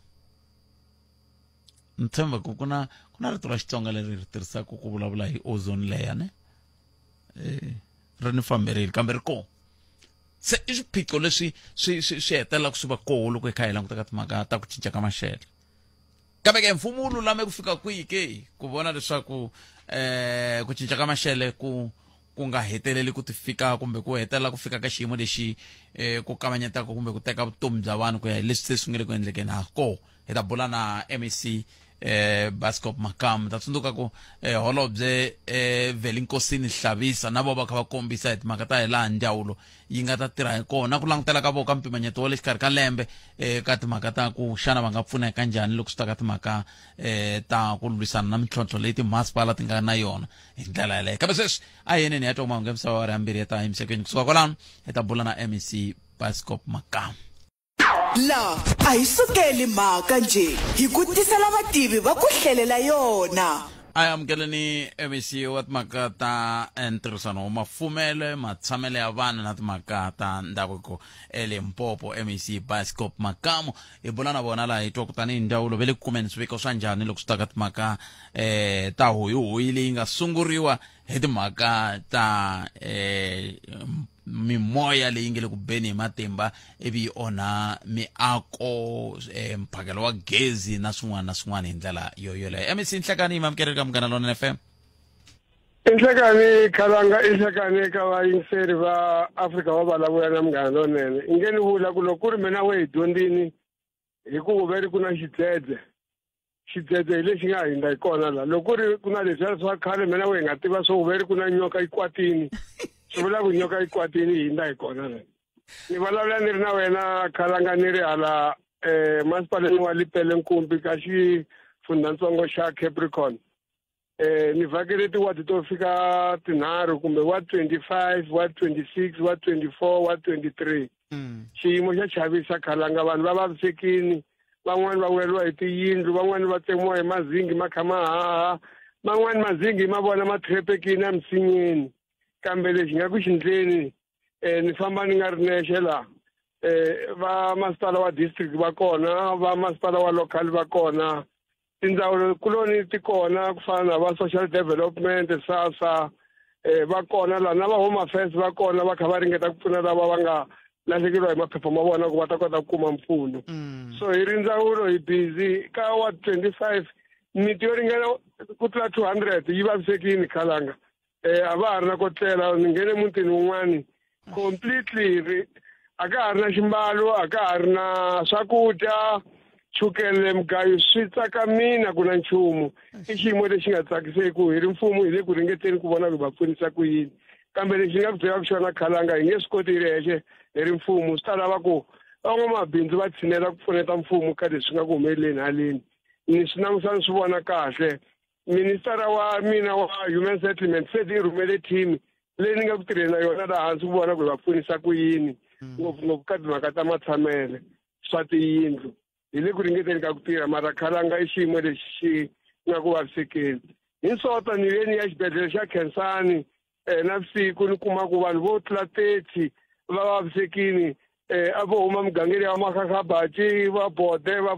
[SPEAKER 1] ni tshemba ku ku na ku na rito ra xitsonga leri ri tirhisaka ku vulavula hi ozone layer ne eh, ri ni famberile kambe ri kona se i swiphiqo leswi swi swi swi hetelelaka swi va koho loko hi kha hi langutaka timhaka ta ku cinca ka maxelo kambe ke mfumo wu lulame ku fika kwihi ke ku vona leswaku eh ku cinca ka maxele ku ku nga heteleli ku ti fika kumbe ku hetelela ku fika ka xiyimo lexi eh ku kavanyetaka kumbe ku teka vutomi bya vanhu ku ya hi leswi se swi nga le ku endlekeni ha ko hi ta bula na mec eh bascop makamu ta tsundzuka ku eh, holobye eh velinkosini hlavisa na vo va kha va kombisa hi timhaka ta hi laha ndyawulo yi nga ta tirha hi kona ku langutela ka voko ka mpimanyeto wa le xikarhi ka lembe um ka timhaka ta ku xana va nga pfuneka njhani loko swi ta ka timhaka um ta ku lwisana na mintlhontlho leyi timasipala ti nga na yona hi ndlela yaleyo kambe sweswi a hi yeneni ya twa mahungu ya misava wa ri hambirhi ya ta emisaveni kusuka kwalano hi ta bula na mec bascop makamu
[SPEAKER 2] laha a hi sukeli mhaka nje hi ku tisela vativi va ku hlelela yona a yi
[SPEAKER 1] amukeleni mec wa timhaka ta eh, ntirhisano wa mafumelo matshamelo ya vana na timhaka ta ndhavuko elimpopo mec bioscope makamu hi bula na vona laha hi twa ku tanihi ndzawulo ve le ku kumeni swiviko swa njhani loko swi ta ka timhaka um ta hoyihoyi leyi nga sunguriwa hi timhaka ta um mimoya leyi nge le ku beni hi matimba ivi yi onha miako eh, mphakelo wa gezi na swin'wana na swin'wana hi ndlela yo yoleyo mec nhlekani yi mamukele ka munghana lona fm inhlekani
[SPEAKER 8] khalanga inhlekani eka vayingiseri va afrika va valavuya na munghana lonene i nge ni vula ku loko ku ri mina we hi dyondzini hi ku vuveri ku na xidzedze xidzedze hi lexi nga hindza hi kona la loko ri ku na leswiya swa khale mina we hi nga tiva swo uveri ku na nyoka yi kwatini swi vula ku nyoka yi kwatini yi hindza hi kona la ni vulavula ni ri na wena khalanga ni ri hala um masipaleni wa lipele nkumbi ka xifundhantsongo xa capricorn eh ni vhakele tiwadi to fika tinharhu kumbe wa 25 wa 26 wa 24 wa 23 Mm. xiyimo xa chavisa khalanga vanhu va vavisekini van'wani va weriwa hi tiyindlu van'wani va tsemiwa hi mazingi ma kha ma haha man'wani mazingi ma vona ma threpekini emisinyeni kambe lexi nga ku xindleni um ni famba ni nga ri nexe laha um va masipala wa district va kona va masipala wa local va kona tindzawulo kuloni ti kona ku fana na va social development sasa eh va kona la na va home affairs va kona va kha va ringeta ku pfuna lava va nga lahlekeriwa hi maphepha ma vona ku va ta kota ku kuma mpfuno mm. so hi ri ndzawulo hi busy ka wa 25 miti yo ringana ku tlula 200 yi vavisekini khalanga eh, a va ha ri na ko tlela ni nghene mutini wun'wani completely ri- a ka ha ri na ximbalo a ka ha ri na swakudya chukele mugayo swi tsakamina ku na nchumu i xiyimo lexi nga tsakiseku hi ri mfumo hi le ku ringeteni ku vona ku va pfunisa ku yini kambe lexi nga ku byelaka xona khalanga hi nge swi koti hi ri hexe hi ri mfumo swi ta lava ku van'wamabindzu va tshinela ku pfuneta mfumo ka leswi nga ku humeleleni haleni ni swi langutisa ni swi vona kahle ministara wa mina wa human settlement se ni rhumele team leyi ni nga ku tirheni na yona laha hansi ku vona ku hi va pfunisa ku yini hmm. ngopfungopfu ka timhaka ta matshamele swa tiyindlu hi le ku ringeteni ka ku tirha mara khalanga i xiyimo lexi xi nga ku vavisekeni hi nsota ni ve ni ya xibedhlele xa khensani um na vusiku ni kuma ku vanhu vo tlula thirty va vavisekini um a vo huma mugangeni ya makhakhaba ci va bode va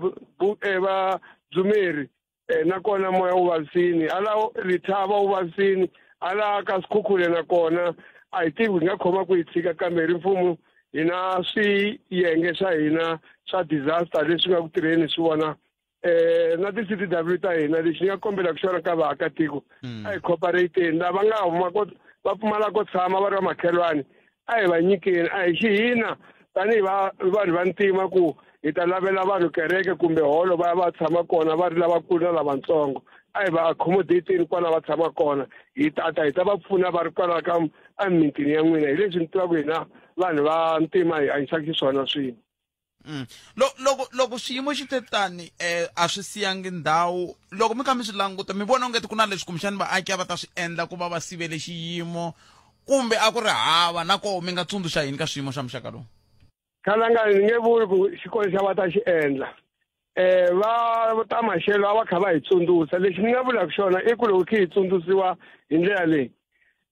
[SPEAKER 8] eh, va dzumeri eh, nakona moya wu vavisini hala rithava wu vavisini hala ka sikhukhule nakona a hi tivi hi nga khoma ku yi tshika kambe hi ri mfumo hina swiyenge swa hina swa disaster leswi nga ku tirheni swi vona eh na ti-c t w ta hina lexi ni nga kombela ku xona ka vaakatiko a hi cooperateni lava nga huma ko va pfumala ko tshama va ri va makhelwani a hi va nyikeni a hi xi hina tanihi va vanhu va ntima ku hi ta lavela vanhu kereke kumbe holo va ya va tshama kona va ri lavakulu na lavatsongo a hi va accommodateni kwala va tshama kona hi tata hi ta va pfuna va ri kwala ka emimitini ya n'wina hi leswi ni tivaka hina vanhu va ntima hi hanyisaka xiswona swin'we Mm. Lo,
[SPEAKER 1] loko loko swiyimo xi te tani eh, a swi siyangi ndhawu loko mi kha mi swi languta mi vona ongeti ku na leswi kumbexani vaaki a va ta swi endla ku va va sivele xiyimo kumbe a ku ri hava na koho mi nga tsundzuxa yini ka swiyimo swa muxaka lowu khalanga ni
[SPEAKER 8] nge vuli ku xikolo xa va ta xi endla eh va ta maxelo a va kha va hi tsundzuxa lexi ni nga vulaka xona i ku loko khe hi tsundzuxiwa hi ndlela leyi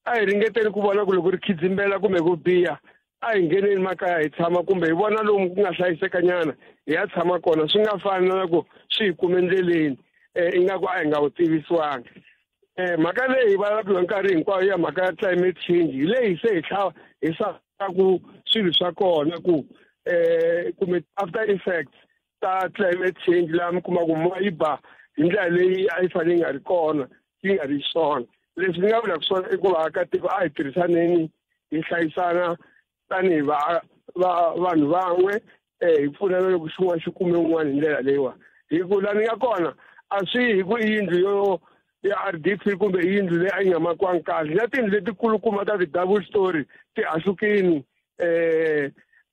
[SPEAKER 8] a hi ringeteni ku vona ku loko ri khidzimbela kumbe ku biha a hi ngeneni makaya hi tshama kumbe hi vona lomu ku nga hlayisekanyana hi ya tshama kona swi nga fani na ku swi hi kume endleleni um ingaku a hi nga wu tivisiwangi eh mhaka leyi va lava nkarhi hinkwayo ya mhaka ya climate change hi leyi se hi tlhava hi saka ku swilo swa kona ku eh kumbe after effects ta climate change laha mi kuma ku moya yi ba hi ndlela leyi a yi fanele yi nga ri kona yi nga ri swona leswi ni nga vulaka swona i ku vaakatiko a hi tirhisaneni hi hlayisana tanihi va va vanhu van'we um hi pfunana loko xin'wana xi kume un'wana hi ndlela leyiwani hi ku la ni nga kona a swi hi ku i yindlu yo ya r d p kumbe i yindlu leyi a yi nga makiwangi kahle na tindlu letikulukumba ta ti-double story ti hahlukini um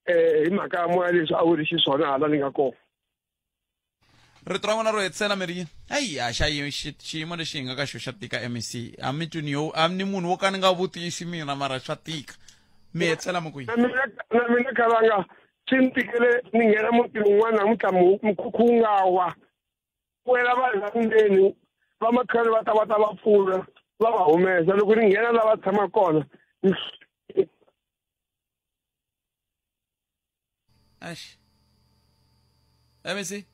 [SPEAKER 8] um hi mhaka ya moya leswi a wu ri xiswona hala ni nga kona
[SPEAKER 1] rito ra n'wina ro hetisela mi ri yini hayi a xa yi- xi- xiyimo lexi hi nga ka xo xa tika mec a mi twi ni yo a ni munhu wo ka ni nga vutisi mina mara swa tika mi hetisela mi ku yini na mina na mina kavanga
[SPEAKER 8] swi ni tikele ni nghena muti wun'wana namuntlha mu- mukhukhu wu nga wa wela vanhu va ndzeni va makhale va ta va ta va pfuna va va humesa loko ni nghena la va tshama kona ni-
[SPEAKER 1] ماشي emisi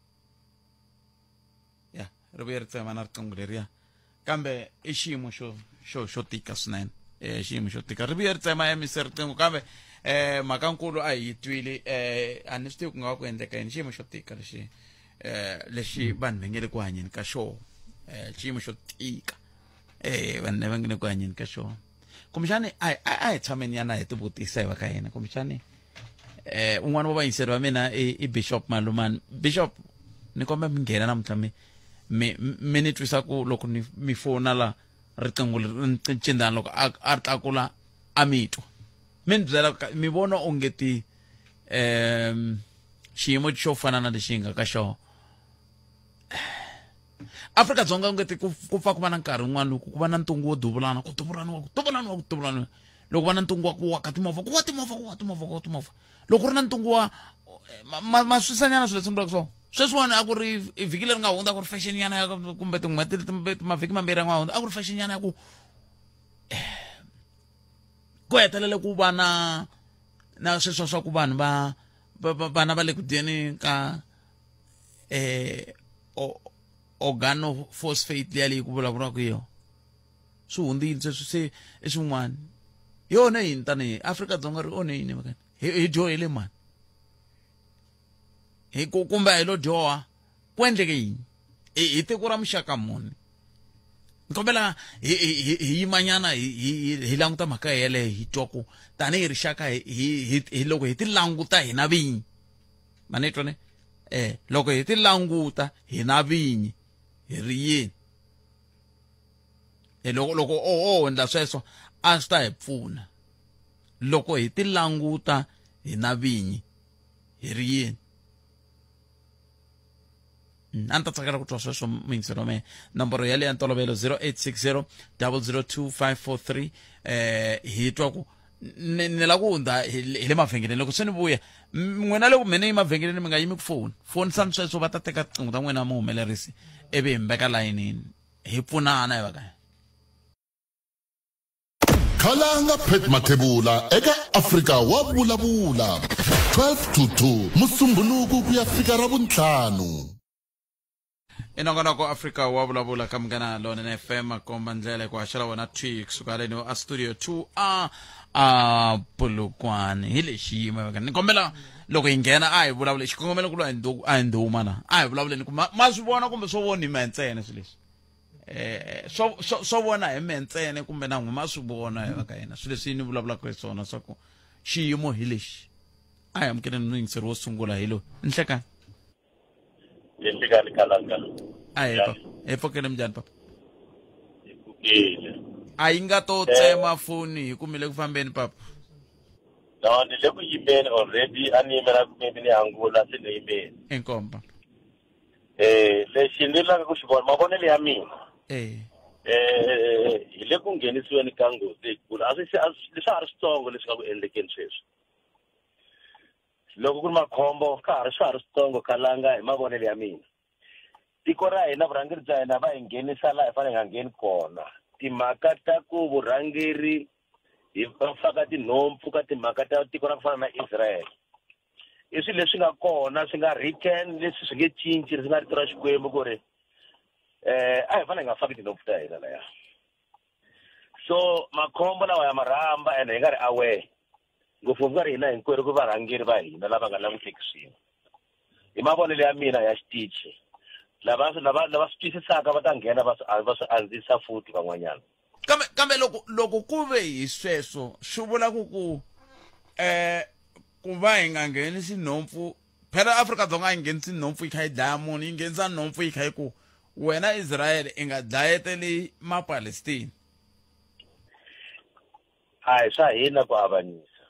[SPEAKER 1] ya ri vuye ri tsema na riqingho leriya kambe i xiyimo xo xo xo tika swinene um xiyimo xo tika ri vuye ri tsema emisi riqingho kambe um mhakankulu a hi yi twile um a ni swi tivi ku nga va ku endleka yini xiyimo xo tika lexi um lexi vanhu va nge le ku hanyeni ka xona um xiyimo xo tika um vanhu lava nge le ku hanyeni ka xona kumbexani a hi- a a hi tshameni yana hi tivutisa hi va ka hina kumbexani eh un'wana wa vayingiseri va mina i i bishop malumani bishop ni kombela mi nghena namuntlha mi mi mi ni twisa ku loko ni mi fona la riqingho leri ri ni cindana loko a a ri tlakula a mi twa mi ni byela ka- mi vona onge ti um xiyimo xo fana na lexi hi nga ka xona afrika dzonga u nge ti ku pfa ku va na nkarhi wun'wana loko ku va na ntungu wo duvulana ku duvulaniwa ku duvulaniwa ku duvulaniwa loko va na ntungu wa ku wa ka timovha ku wa timovha ku wa timovha ku wa timovha loko ri na ntungu wa maswisanyana swilo leswi vulaka swona sweswiwani a ku ri vhiki leri nga hundza ku ri fashion nyana ya kumbe tin'hweti mavhiki mambirhi ya nga hundza a ku ri fashion nyana ya ku ku hetelela ku va na na sweswo swa ku vanhu va vana va le ku dyeni ka eh organophosphate liya leyi ku vulavuriwaka yona swi hundzile sweswi se i swin'wana hi onhe yini tanihi afrika dzonga ri onhe yini vakani hi dyohele mani hi ku kumbe hi lo dyoha ku endleke yini hi tiko ra muxaka muni ni kombela hi yimanyana hi languta mhaka yeleyo hi twa ku tanihi rixaka hi loko hi ti languta hina vinyi ma ni twa ne um loko hi ti languta hi na vinyi hi ri yini e loko loko o o endla sweswo a swi ta hi pfuna loko hi ti languta hi na vinyi hi ri yini mm, a ni ta tsakela ku twa sweswo muyingiselo mehe nomboro yale ya ntolovelo 0860 002543 eh hi twa ku ni la ku hundza hi le mavhengeleni loko se ni vuya n'wina loko mina yi mavhengeleni mi nga yimi ku foni foni sani sweswo va ta teka tiqingho ta n'wina muhumelerisi ivi hi mbeka layinini hi pfunana hi va kaya
[SPEAKER 3] Khalanga Pat Mathebula eka Afrika wa Vulavula, 12 to 2 Musumbhunuku ku ya fika Ravuntlhanu.
[SPEAKER 1] i nongonoko afrika wa vulavula ka munghana lonene fm komba ndlela hi ku haxela wena twi kusuka haleni a studio 2 a a pulukwane hi lexi yimaka ni kombela loko hi nghena a hi vulavule xikongomelo ku lwa hi ndu- a hi ndhuma la a hi vulavuleni ku ma ma swi vona kumbe swo vona hi ma ntsena swilo leswi eh swo swo vona hi me ntsene kumbe na nghuma swi vona hi va ka yena swilo leswi ni vulavulaka hi swona swa ku xiyimo hi lexi a hi amukeleni no yingiseri wo sungula hi lowu nhlekani nhlekani
[SPEAKER 9] kalaka a hi papa
[SPEAKER 1] hi pfokele minjhani papa
[SPEAKER 9] a yi nga to
[SPEAKER 1] tsema eh. foni hi kumile ku fambeni papa no
[SPEAKER 9] ni le ku yimeni already a ni yimela ku maybe ni angula se ni yimeni inkomba
[SPEAKER 1] eh lexi
[SPEAKER 9] ni langa ku xi vona mavonelo ya mina eh eh hi le ku nghenisiweni ka nghozi leyikulu a swi se- a swi- leswi a ha ri switsongo leswi nga ku endlekeni sweswi loko ku ri makhombo ka ha ri swa ha ri switsongo kalanga hi mavonelo ya mina tiko ra hina vurhangeri bya hina va hi nghenisa laha hi fanele hi nga ngheni kona timhaka ta ku vurhangeri hi va faka tinhompfu ka timhaka ta tiko ra ku fana na israel i swilo leswi nga kona swi nga written leswi swi nge cinci swi nga rito ra xikwembu ku ri eh a hi fanele hi nga faki tinhompfu ta hina laya so makhombo lawa ya marhamba ene hi nga ri aware ngopfungopfu ka ri hina hinkwerhu ku varhangeri va hina lava nga languteki swilo hi mavonelo ya mina ya xitichi lava lava lava swi twisisaka va ta nghena va swi va swi andzisa futhi van'wanyana kambe kambe loko
[SPEAKER 1] loko ku ve hi sweswo swi vula ku ku um ku va hi nga nghenisi nhompfu phela afrika-dzonga yi nghenisi nhompfu yi kha yi dlaya munhu yi nghenisa nhompfu yi kha yi ku wena israyele i nga dlayeteli mapalestina
[SPEAKER 9] a hi swa hina ku avanyisa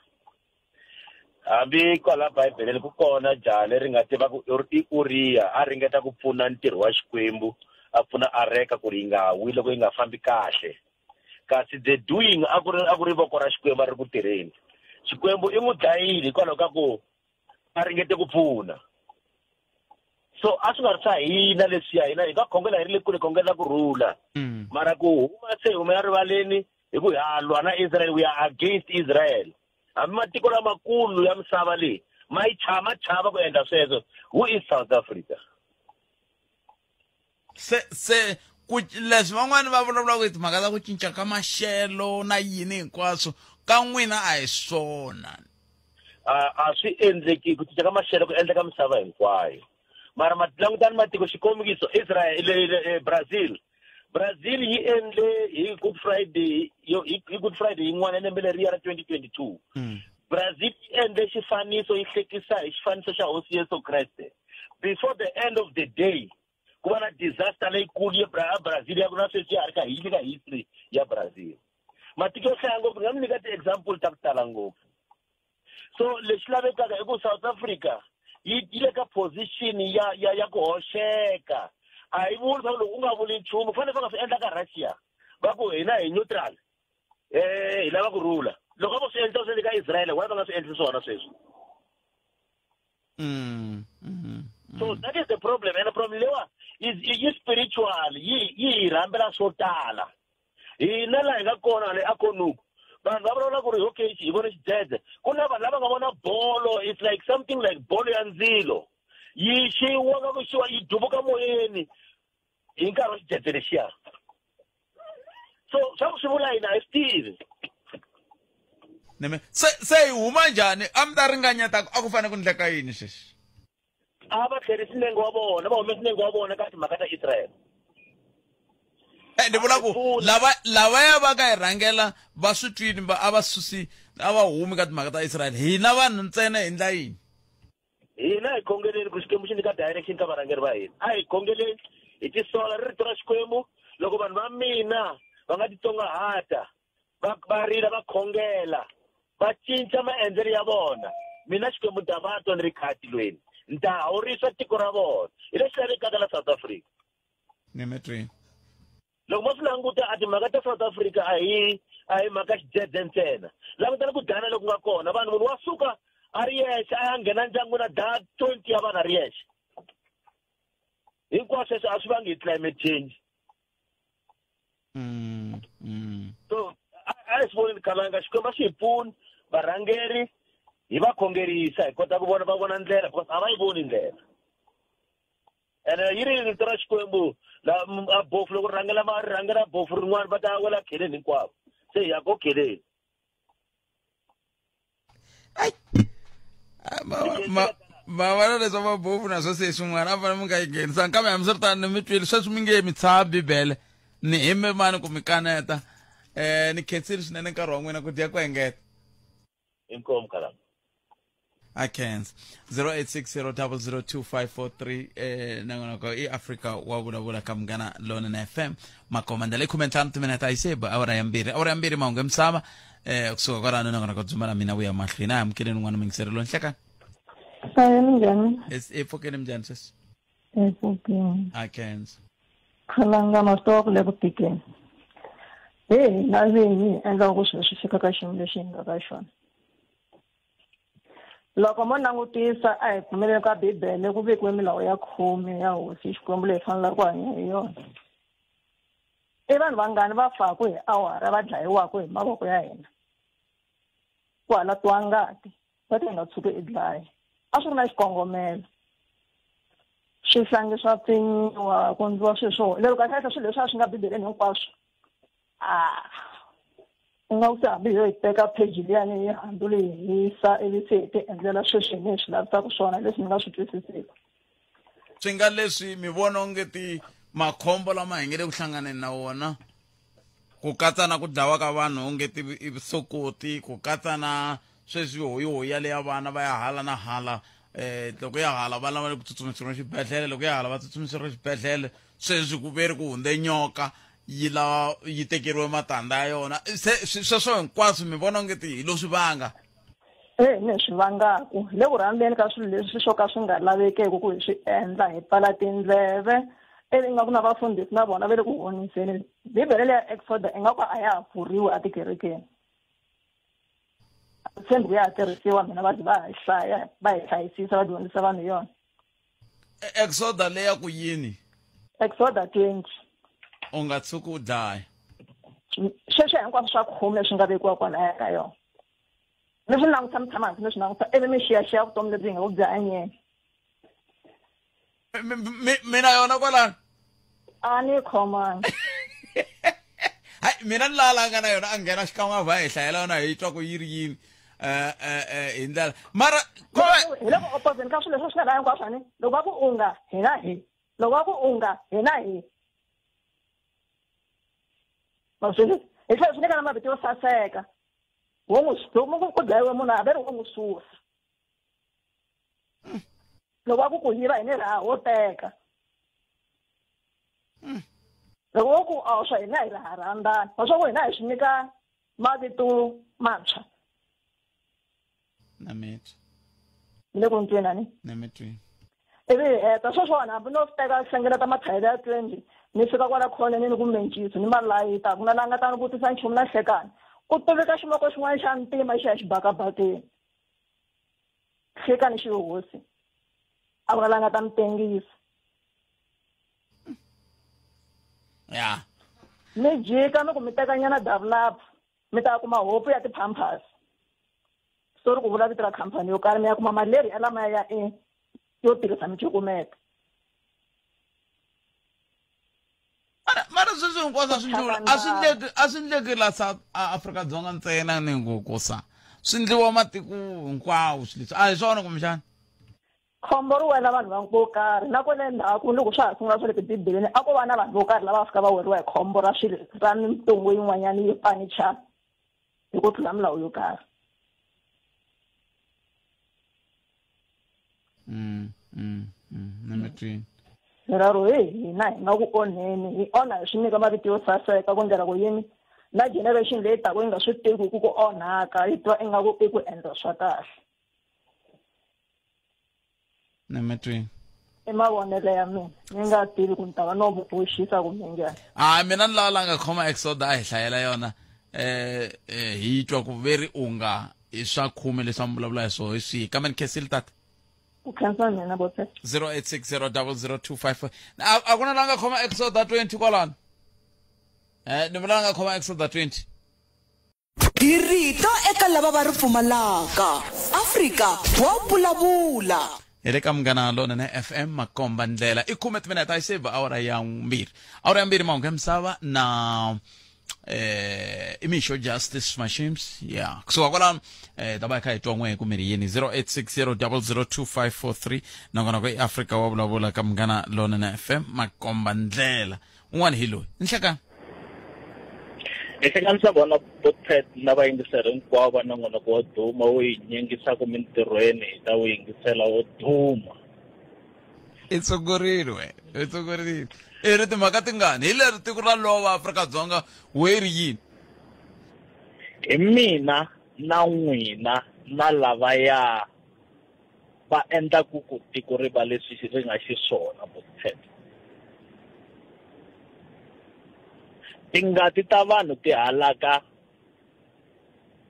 [SPEAKER 9] hambi kwala bibeleni ku kona jaha leri nga tiva ku i uriya a ringeta ku pfuna ntirho wa xikwembu a pfuna areka ku ri yi nga wi loko yi nga fambi kahle kasi the doing a ku ri a ku ri voko ra xikwembu a ri ku tirheni xikwembu i n'wi dlayile hikwalaho ka ku a ringete ku pfuna so a swi nga ri swa hina leswiya hina hi nga khongela hi ri le kule khongela ku rhula mm. mara ku huma se hi humela rivaleni hi ku ha lwa na israel we are against israel hambi matiko lamakulu ya misava leyi ma yi chava ma chava ku endla sweswo who is south africa
[SPEAKER 1] se se ku leswi van'wani va vulavulaka hi timhaka ta ku cinca ka maxelo na yini hinkwaswo ka n'wina a hi swona
[SPEAKER 9] a swi endleki ku cinca ka maxelo ku endleka misava hinkwayo mara langutani matiko xikombiso israel e, brazil brazil yi endle hi good friday hi good friday yin'wana lembe leriya ra 2022 hmm. brazil yi endle xifaniso yi hlekisa hi xifaniso xa hosi yesu kreste before the end of the day ku va na disaster leyikulu ya Bra- brazil ya ku na sweswi ya ha ri ka hi nyika history ya brazil matiko yo hlaya ngopfu ni nga mi nyika ti-example ta ku tala ngopfu so lexi lavekaka i ku south africa yi yi le ka position ya ya ya ku hoxeka a yi vuli swaku loko u nga vuli nchumu ku fanele va nga swi endla ka russia va ku hina hi neutral um hi lava ku rhula loko a vo swi endla swi endle ka israel why va nga swi endli swona sweswi Mm, mm, so mm. that is the problem and the problem lewa is yi spiritual yi yi hi rhambela swo tala hina laha hi nga kona le akonuku vanhu va vulavula ku ri okay hi vone xidzedze ku na vanhu lava nga vona bolo it's like something like bolo ya ndzilo yi xiwa ka ku xiwa yi duvuka moyeni hi nkarhi wa xidzedze lexiya so swa ku swi vula yini a hi swi tivi neme
[SPEAKER 1] se se hi huma njhani a mi ta ringanyeta ku a ku fanele ku ndleka yini sweswi a va
[SPEAKER 9] tlherisi nenge wa vona va humesi nenge wa vona ka timhaka ta israyele Eh,
[SPEAKER 1] ni vula ku lava lavaya va ka hi rhangela va swi twini va a va susi a va humi ka timhaka ta israyele hina vanhu ntsena hi ndla yini hina
[SPEAKER 9] hi khongeleni ku xikwembu xi nyika direction ka varhangeri va hina a hi khongeleni hi tisola ri rito ra xikwembu loko vanhu va mina va nga titsongahata va va rila va khongela va cinca maendlelo ya vona mina xikwembu ni ta va twa ni ri kaya tilweni ni ta hawurisa tiko ra vona hi lexi lavekaka la south africa Name it rain. loko mo swi languta a timhaka ta south africa a hi a hi mhaka xidzedze ntsena langutani ku dana loku nga kona vanhu munhu wa suka a ri yexe a ya nghena ndyangwini a daya twenty ya vanhu a ri yexe hinkwaswo sweswo a swi vangi hi climate change mm, mm. so a hi swi voneni khalanga xikwembu a swi hi pfuni varhangeri hi va khongerisa hi kota ku vona va vona ndlela because a va yi voni ndlela ene yi ri rito ra xikwembu la m- a bofu loko
[SPEAKER 1] ri rhangela ma ri rhangela bofu rin'wana va ta wela kheleni hinkwavo se hi ya ko kheleni Ai. Ah, ma- ma- ma vona leswa mabofu naswo se swin'wana a fanele mi nga yi nghenisanga kambe hambiswiritano ni mi twile sweswi mi nge mi tshava bibele ni hime mani ku mi kaneta um ni khensile swinene nkarhi wa n'wina ku dya ku engeta inkomu khalanga akhenza 0860002543 eh nangonoko iafrica wavulavula ka munghana lona na fm makomanda leyi khume ntlhanu timinete a yi se ba awara ya mbirhi awara ya mbirhi mahungu ya misava eh kusuka kwalano nangonoko dzuma la mina vuya mahlweni a hi amukeleni un'wana mingiseri lo nhlekani Saye
[SPEAKER 10] minjhani? i pfukeni
[SPEAKER 1] minjhani sweswi Enkokeni.
[SPEAKER 10] ha kendzo
[SPEAKER 1] Khalangana
[SPEAKER 10] swi tova ku le ku tikeni. Hi hina vinyi hi endlaka ku swilo swi fika ka xiyimo lexi hi nga ka xona. Loko mo langutisa a hi pfumeleli ka Bibele ku vekiwe milawu ya khume ya hosi hi Xikwembu leyi fanelaka ku hanya hi yona. I vanhu vangani va faku hi awara va dlayiwaka hi mavoko ya hina. Ku halatiwa ngati. va ta nga tshuki i dlaya a swi ri na xikongomelo swihlangi swa pfinyiwa ku ndliwa swilo swo lero kahlekahle swilo leswi a swi nga bibeleni hinkwaswo a u nga ku se hambi yo yi teka pheji liyani yi handuli yi hisa ivi se hi ti endlela sweswi hi ni hi swi lavisaka swona leswi ni nga swi twisisiki swi
[SPEAKER 1] nga leswi mi vona onge ti makhombo lama hi nge le ku hlanganeni na wona ku katsa na ku dlawa ka vanhu onge ti i vusokoti ku katsa na sweswi hoyihoyi ya leya vana va ya hala na hala um loko ya hala vana va le ku tsutsumisiwa xibedhlele loko ya hala va tsutsumisiwa xibedhlele sweswi ku ve ri ku hundze nyoka yi la yi tekeriwe matandza ya yona se sweswo hinkwaswo mi vona onge ti hi lo swi vanga e ni
[SPEAKER 10] swi vangaku hi le ku rhandzeni ka swilo leswi swo ka swi nga lavekeki ku hi swi endla hi pfala tindleve ivi nga ku na vafundhisi na vona va le ku honiseni bibele leya exoda i nga ku a ya ha pfuriwi etikerekeni a tshembi ku ya ha tirhisiwa mina va va hi hlaya va hi hlayisisa va dyondzisa vanhu yona E-
[SPEAKER 1] exoda leya ku yini exoda 20
[SPEAKER 10] u nga
[SPEAKER 1] tshuki u dlaya
[SPEAKER 10] sweswo hinkwaswo swa khume leswi nga vekiwa kwalaya ka yona mi swi languta mi tshama hansi mi swi languta ivi mi xiyaxiya vutomi lebyi hi nga ku byi hanyeni
[SPEAKER 1] Mi- mi- mi- mina yona kwalano a ni
[SPEAKER 10] khomanga
[SPEAKER 1] hayi mina ni lala nga na yona a nghena xikan'we a va hi hlayela yona hi twa ku yi ri yini eh, eh, eh, hi ndlela mara ko va hi le ku
[SPEAKER 10] opposeni ka swilo leswi swi nga laha hinkwaswo ni loko va ku unga hi na hi loko va ku unga hi na hi maswini hi tlhela swi nyika na mavito yo saseka wo n'wi loko ku dlayiwe munhu a ve ri wo n'wi susa mm. loko va ku ku yiva hi ni raha wo teka mm. loko va ku a swa hina hi raha rhandzani va swa ku hina hi swi nyika mavito mantshwa
[SPEAKER 1] nametwa mi le
[SPEAKER 10] ku ni twina ni nametwini
[SPEAKER 1] ivi hi
[SPEAKER 10] heta sweswona hambi no teka hlengeleta mathayele ya twenty ni fika kwala khoneni ni ku mencisi ni malayita ku na la nga ta ni vutisa nchumu na hlekani ku tiveka ximoko xin'wana xa ntima xi ya xibakabakeni hlekani xi hosi a ku na la nga ta mi tengisa
[SPEAKER 1] ya mi
[SPEAKER 10] jika ni ku mi tekanyana davulap mi ta kuma hopu ya ti-pampers so ri ku vula vito ra khampani yo karhi mi ya kuma mali leri ya lamaya ya e yo tirhisa micukumeta
[SPEAKER 1] mara mara sweswi hinkwaswo a swi ndliwa a swi ndleki a swi ndleki la south afrika-dzonga ntsena ni ngo kosa swi ndliwa matiko hinkwawo swi leswi a hi swona kumbexana
[SPEAKER 10] khombo ri wena vanhu vanhu vo karhi na kona endzhaku loko swa ha sungula swa le tibibeleni a ko va na vanhu vo karhi lava va fika va weriwa hi khombo ra swilo ra mintungu yin'wanyana yo panichana hi ku tlula milawu yo karhi
[SPEAKER 1] mm, mm, mm, ni mi twini rero hi
[SPEAKER 10] hina hi nga ku onheni hi onha hi swi nyika mavito yo saseka ku ndlela ku yini na generation leyi taku yi nga swi tivi ku ku onhaka yi twa ingaku i ku endla swa kahle
[SPEAKER 1] ni mi twini i
[SPEAKER 10] mavonelo ya mina ni nga tivi ku ni ta va no mu boxisa kumbe njhani a mina ni lava la
[SPEAKER 1] nga khoma exoda a hi hlayela yona um hi twa ku ve ri unga hi swa khume leswi a mi vulavula hi swo hi swihi kambe ni khensile tata ku khensa
[SPEAKER 10] mina
[SPEAKER 1] bote 08600025 a a ku na la nga khoma exoda 20 kwalano um ni vula la nga khoma exoda 20 Hi rito
[SPEAKER 2] eka lava va ri pfumalaka. Afrika wa vulavula. hi le ka munghana
[SPEAKER 1] lonene fm makomba ndlela i khume timinete a yi save awara ya mbirhi awara ya mbirhi mahungu ya misava na eh imixo justice machines ya kusuka kwalano eh ta va hi kha hi twa n'we ku miri yini 0860002543 nongonoko i afrika wa vulavula ka munghana lonene fm makomba ndlela un'wana hi loyi nhlekani hi
[SPEAKER 11] hlanganisa vona botpet na vayingiseri hinkwavo va na n'wanako wo duma wo yi nyingisaka mintirhweni hi ta wu yingisela wo duma i tsungurile
[SPEAKER 1] we i tsungurile i ri timhaka tingani hi leri tiko ra lova afrika-dzonga we ri yini
[SPEAKER 11] hi mina na n'wina na lavaya va endla ku ku tiko ri va leswi ri nga xiswona Bostet. Tingati ta vanhu ti halaka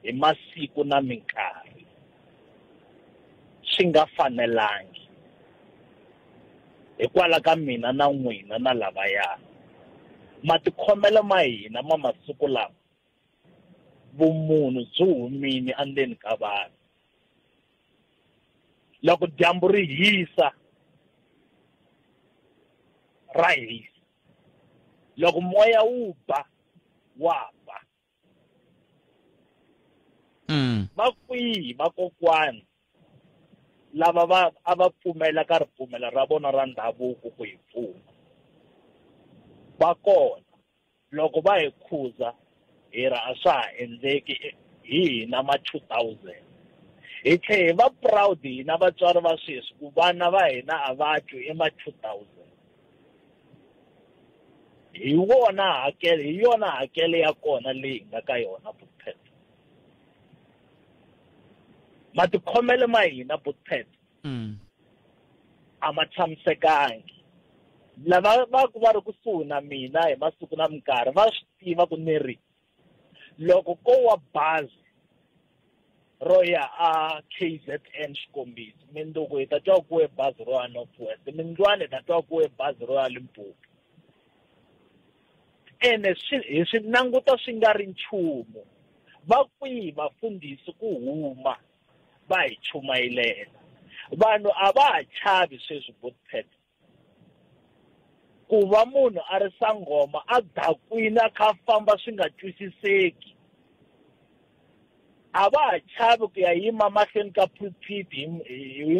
[SPEAKER 11] hi masiku na minkarhi swi nga fanelangi hikwalaho ka mina na n'wina na lavaya matikhomelo ma hina ma masiku lama vumunhu byi humile endzeni ka vanhu loko dyambu ri hisa ra hisa loko moya wu ba wa ba mm. va kwihi vakokwani lava va a va pfumela ka ripfumelo ra vona ra ndhavuko ku hi pfuna va kona loko va hi khuza hi ra a swa ha endleki hi hina ma 2000 hi tlhe hi va proud hina vatswari va sweswi ku vana va hina a va twi i ma 2000 hi wona hakelo hi yona hakelo ya kona leyi nga ka yona bukpet matikhomele ma hina bukpet mm. a ma tshamisekangi lava va ku va ri kusuhi na mina hi masiku na minkarhi va swi tiva ku ni ri loko ko wa bazi ro ya a k z n xikombiso mindzuku hi ta twa ku we bazi ro ya north west mindlwana hi ta twa ku we bazi ro ya limpopo ene swi hi swi languta swi nga ri nchumu va kwihi vafundhisi ku huma va hi chumayilela vanhu a va ha chavi sweswi botpet ku va munhu a ri sangoma a dakwini a kha a famba swi nga twisiseki a va ha chavi ku ya yima mahlweni ka pulpit hi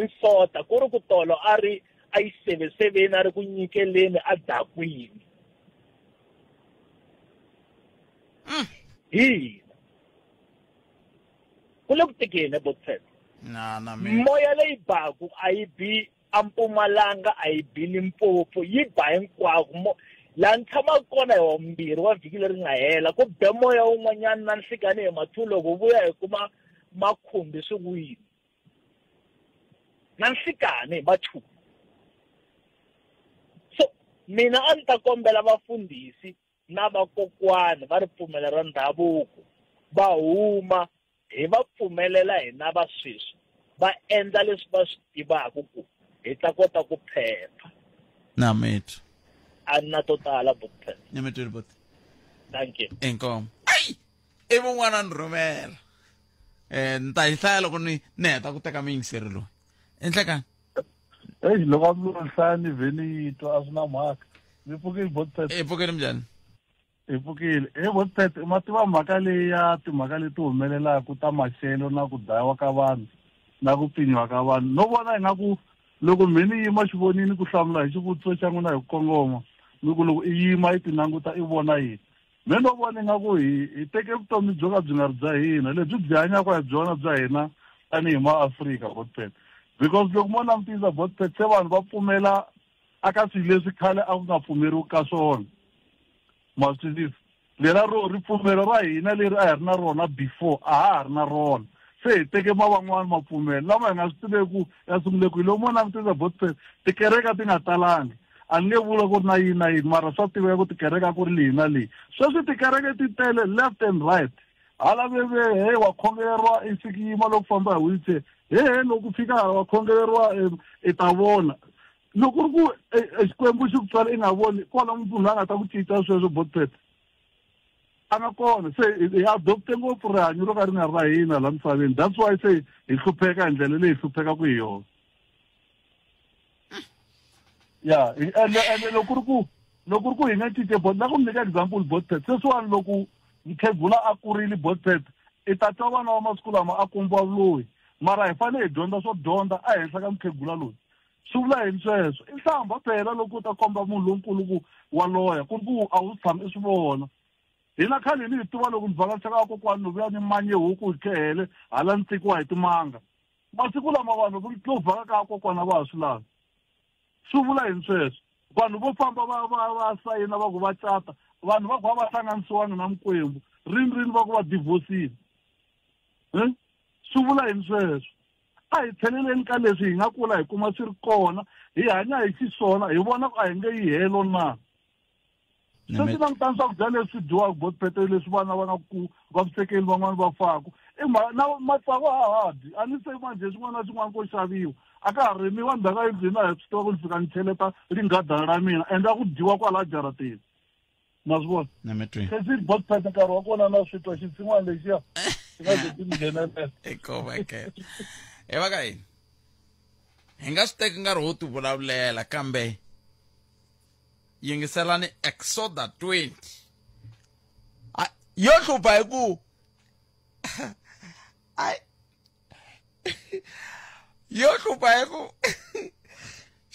[SPEAKER 11] nsota ku ri ku tolo a ri a yi seveseveni a ri ku nyikeleni a dakwini mm. hi ku le ku tekeni eboksen na na mi moya leyi baku a yi bi ampumalanga a yi bi limpopo yi ba hinkwako mo laha ni tshamaka kona hi wambirhi wa vhiki leri nga hela ku be moya wun'wanyana na nhlikani hi mathu loko vuya hi kuma makhumbi swi wini na nhlikani hi mathu so mina a ni ta kombela vafundhisi na vakokwani va ripfumelo ra ndhavuko va huma hi va pfumelela hina va sweswi va endla leswi va swi tivaka ku hi ta kota ku phepha na
[SPEAKER 1] mitu a ni na to
[SPEAKER 11] tala butphe ni mitu ri buti
[SPEAKER 1] thank you
[SPEAKER 11] inkomo ai
[SPEAKER 1] i vun'wana ni rhumela um ni ta yi hlaya loko ni ni heta ku teka miyingiseri loyi endlekani eyi
[SPEAKER 6] loko a mi hlaya ni vhe ni yi twa a swi na mhaka mi pfukile botpet i pfukile minjhani
[SPEAKER 1] hi
[SPEAKER 6] pfukile he botpet ma tiva mhaka leyi ya timhaka leti humelelaka ta maxelo na ku dlayiwa ka vanhu na ku pfinyiwa ka vanhu no vona ingaku loko mhe ni yima xivonini ku hlamula hi xivutiso xa n'wina hi ku kongoma ni ku loko i yima i ti languta i vona yini Me no vona ingaku hi hi teke vutomi byo ka byi nga ri bya hina lebyi byi hanyaka hi byona bya hina tanihi maafrika botpet because loko mo langutisa botpet se vanhu va pfumela aka swilo leswi khale a ku nga pfumeriwi ka swona ma swi twisisa lela ro ripfumelo ra hina leri a hi ri na rona before a ha ha ri na rona se hi teke ma van'wani mapfumelo lama hi nga swi tiveku ya sungule kwihi loko mo langutisa botpet tikereka ti nga talangi A ni nge vula ku ri na yini na yini mara swa tiveka ku tikereke a ku ri leyi na leyi. Sweswi tikereke ti tele left and right. Hala ve ve he wa khongeleriwa i fiki yima loko u famba hi wheelchair he he loko u fika hala wa khongeleriwa i ta vona. Loko ku ri ku e Xikwembu xi ku tswale i nga voni kona munhu la nga ta ku cinca sweswo botpet a nga kona. Se hi adopt-e ngopfu rihanyo ro ka ri nga ri ra hina la misaveni that's why se hi hlupheka hi ndlela leyi hi hluphekaku hi yona. ya ende ende loko ri ku loko ri ku hi nga cince bot na ku mi nyika example botpet sweswiwani loko mukhegula a kurile botpet i ta twa vana wa masiku lama a kombiwa vuloyi mara hi fanele hi dyondza swo dyondza ehenhla ka mukhegula loyi swi vula yini sweswo i nhlamba phela loko u ta komba munhu lonkulu ku wa loya ku ri ku a wu tshami i swi vona hina khale ni hi tiva loko ni vhakachaka kokwani ni vuya ni manye huku hi khehele hala ni tsekiwa hi timanga masiku lama vanhu ku tluvhaka ka kokwana va ha swi lavi swi vula yini sweswo vanhu vo famba va va va sayina va ku va cata vanhu va ku va va hlanganisiwangi na mikwembu rini rini va ku va divhosile um swi vula yini sweswo a hi tlheleleni ka leswi hi nga kula hi kuma swi ri kona hi hanya hi xiswona hi vona ku a hi nge yi helo na sweswi langutani swakudya leswi dyiwaka botpete leswi vana va nga ku vavisekeli van'wana va faku na matsavu a ha dyi a ni se manje xin'wana na xin'wana ko xaviwa a ka ha rimiwa ndzhaka yi dyi na hi swi tiva ku ni fika ni cheleta ringhadana ra mina ende a ku dyiwa kwala jarateni ma swi vona kasi botpete nkarhi wa kona na swi twa xitsin'wana lexiya xi nga ze ti ni nghenelela ekoveke
[SPEAKER 1] e va ka yini hi nga swi teki nkarhi wo ti vulavulela kambe yingiselani exoda 20 A- yo hlupha hi ku ai yo hlupha hi ku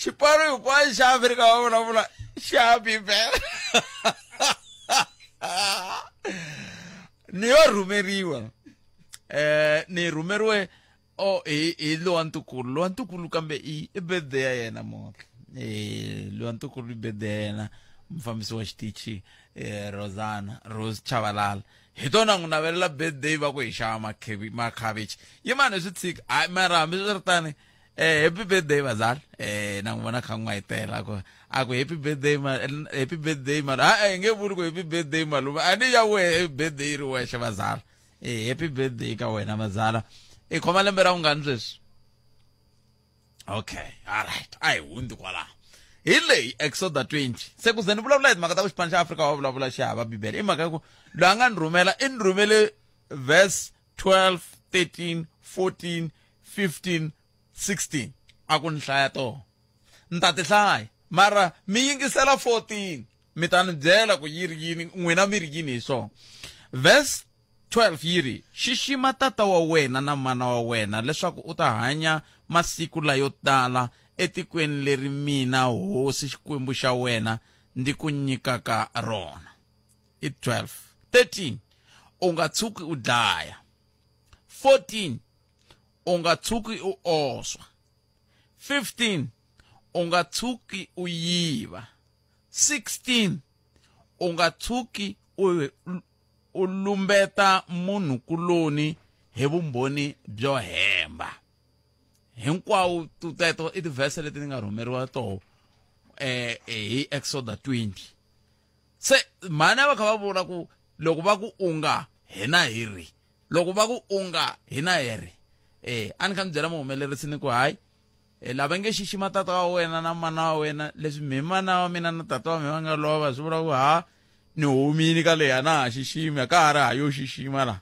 [SPEAKER 1] xipano hinkwaxo xa afrika va vulavula xa bibele ni yo rhumeriwa eh ni rhumeriwe o hi hi lowa ntukulu lowa ntukulu kambe i i birthday ya yena motla eh lowa ntukulu i birthday ya yena mufambisi wa xitichi eh Rosana Rose Chavalala hi tona n'wi navelela birthday va ku hi xava makhevi makhavichi yi mani hi swi tshika hayi mara hambi swi ri tani eh happy birthday bazali eh na n'wi vona kha n'wi hitela ku a ku happy birthday ma happy birthday ma a hi nge vuli ku happy birthday malume a ni ya wehe birthday yi ri wexe bazali e happy birthday ka wena mazala i khoma lembe ra vungani sweswi okay alright a hi hundzi kwalaho hi leyi exoda 20 se ku ze ni vulavula hi timhaka ta ku xipano xa afrika wa vulavula xi hava bibele i mhaka ya ku loyi a nga ni rhumela i ni rhumele verse 12 13 14 15 16 a ku ni hlaya toho ni ta ti hlaya mara mi yingisela 14 mi ta ni byela ku yi ri yini n'wina mi ri yini hi swona verse 12 yi ri xixima tata wa wena na mana wa wena leswaku u ta hanya masiku layo tala etikweni leri mina hosi xikwembu xa wena ndi ku nyikaka rona i 12 13 u nga tshuki u dlaya 14 u nga tshuki u oswa 15 u nga tshuki u yiva 16 u nga tshuki u u lumbeta munhu kuloni hi vumbhoni byo hemba hinkwawo teto i tivhese leti ni nga rhumeriwa toho eh, eh hi exoda 20 se mhana va kha va vula ku loko va ku unga hina hi ri loko va ku unga hina hi ri eh a ni kha ni byela muhumelerisi ni ku hayi Hi la va nge xixima tata wa wena na mana wa wena leswi mi mana wa mina na tata wa mina va nga lova swi vula ku ha ni humini ka leyi a na ha xiximi a ka ha ri ha yo xixima laha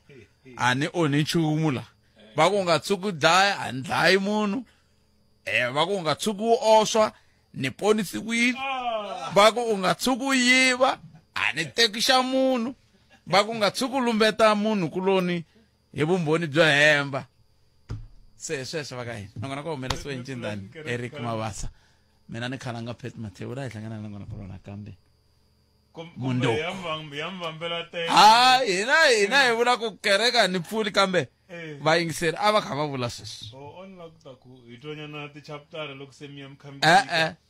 [SPEAKER 1] a ni onhi nchumu laha va ku nga tshuki dlaya a ni dlayi munhu um va ku nga tshuki wu oswa ni ponisiwile va ku u nga tshuki u yiva a ni tekixa munhu va ku nga tshuki u lumbeta munhu kuloni hi vumbhoni byo hemba se hi sweswo va ka hina na kona ku humelesiwe ncindani eric mavasa mina ni khalanga pet mathewu la hi hlangana na kona kolona kambe mundo ha hina hina hi vula ku kereka ni pfuli kambe eh. vayingiseri a va kha va vula sweswo oh, e-e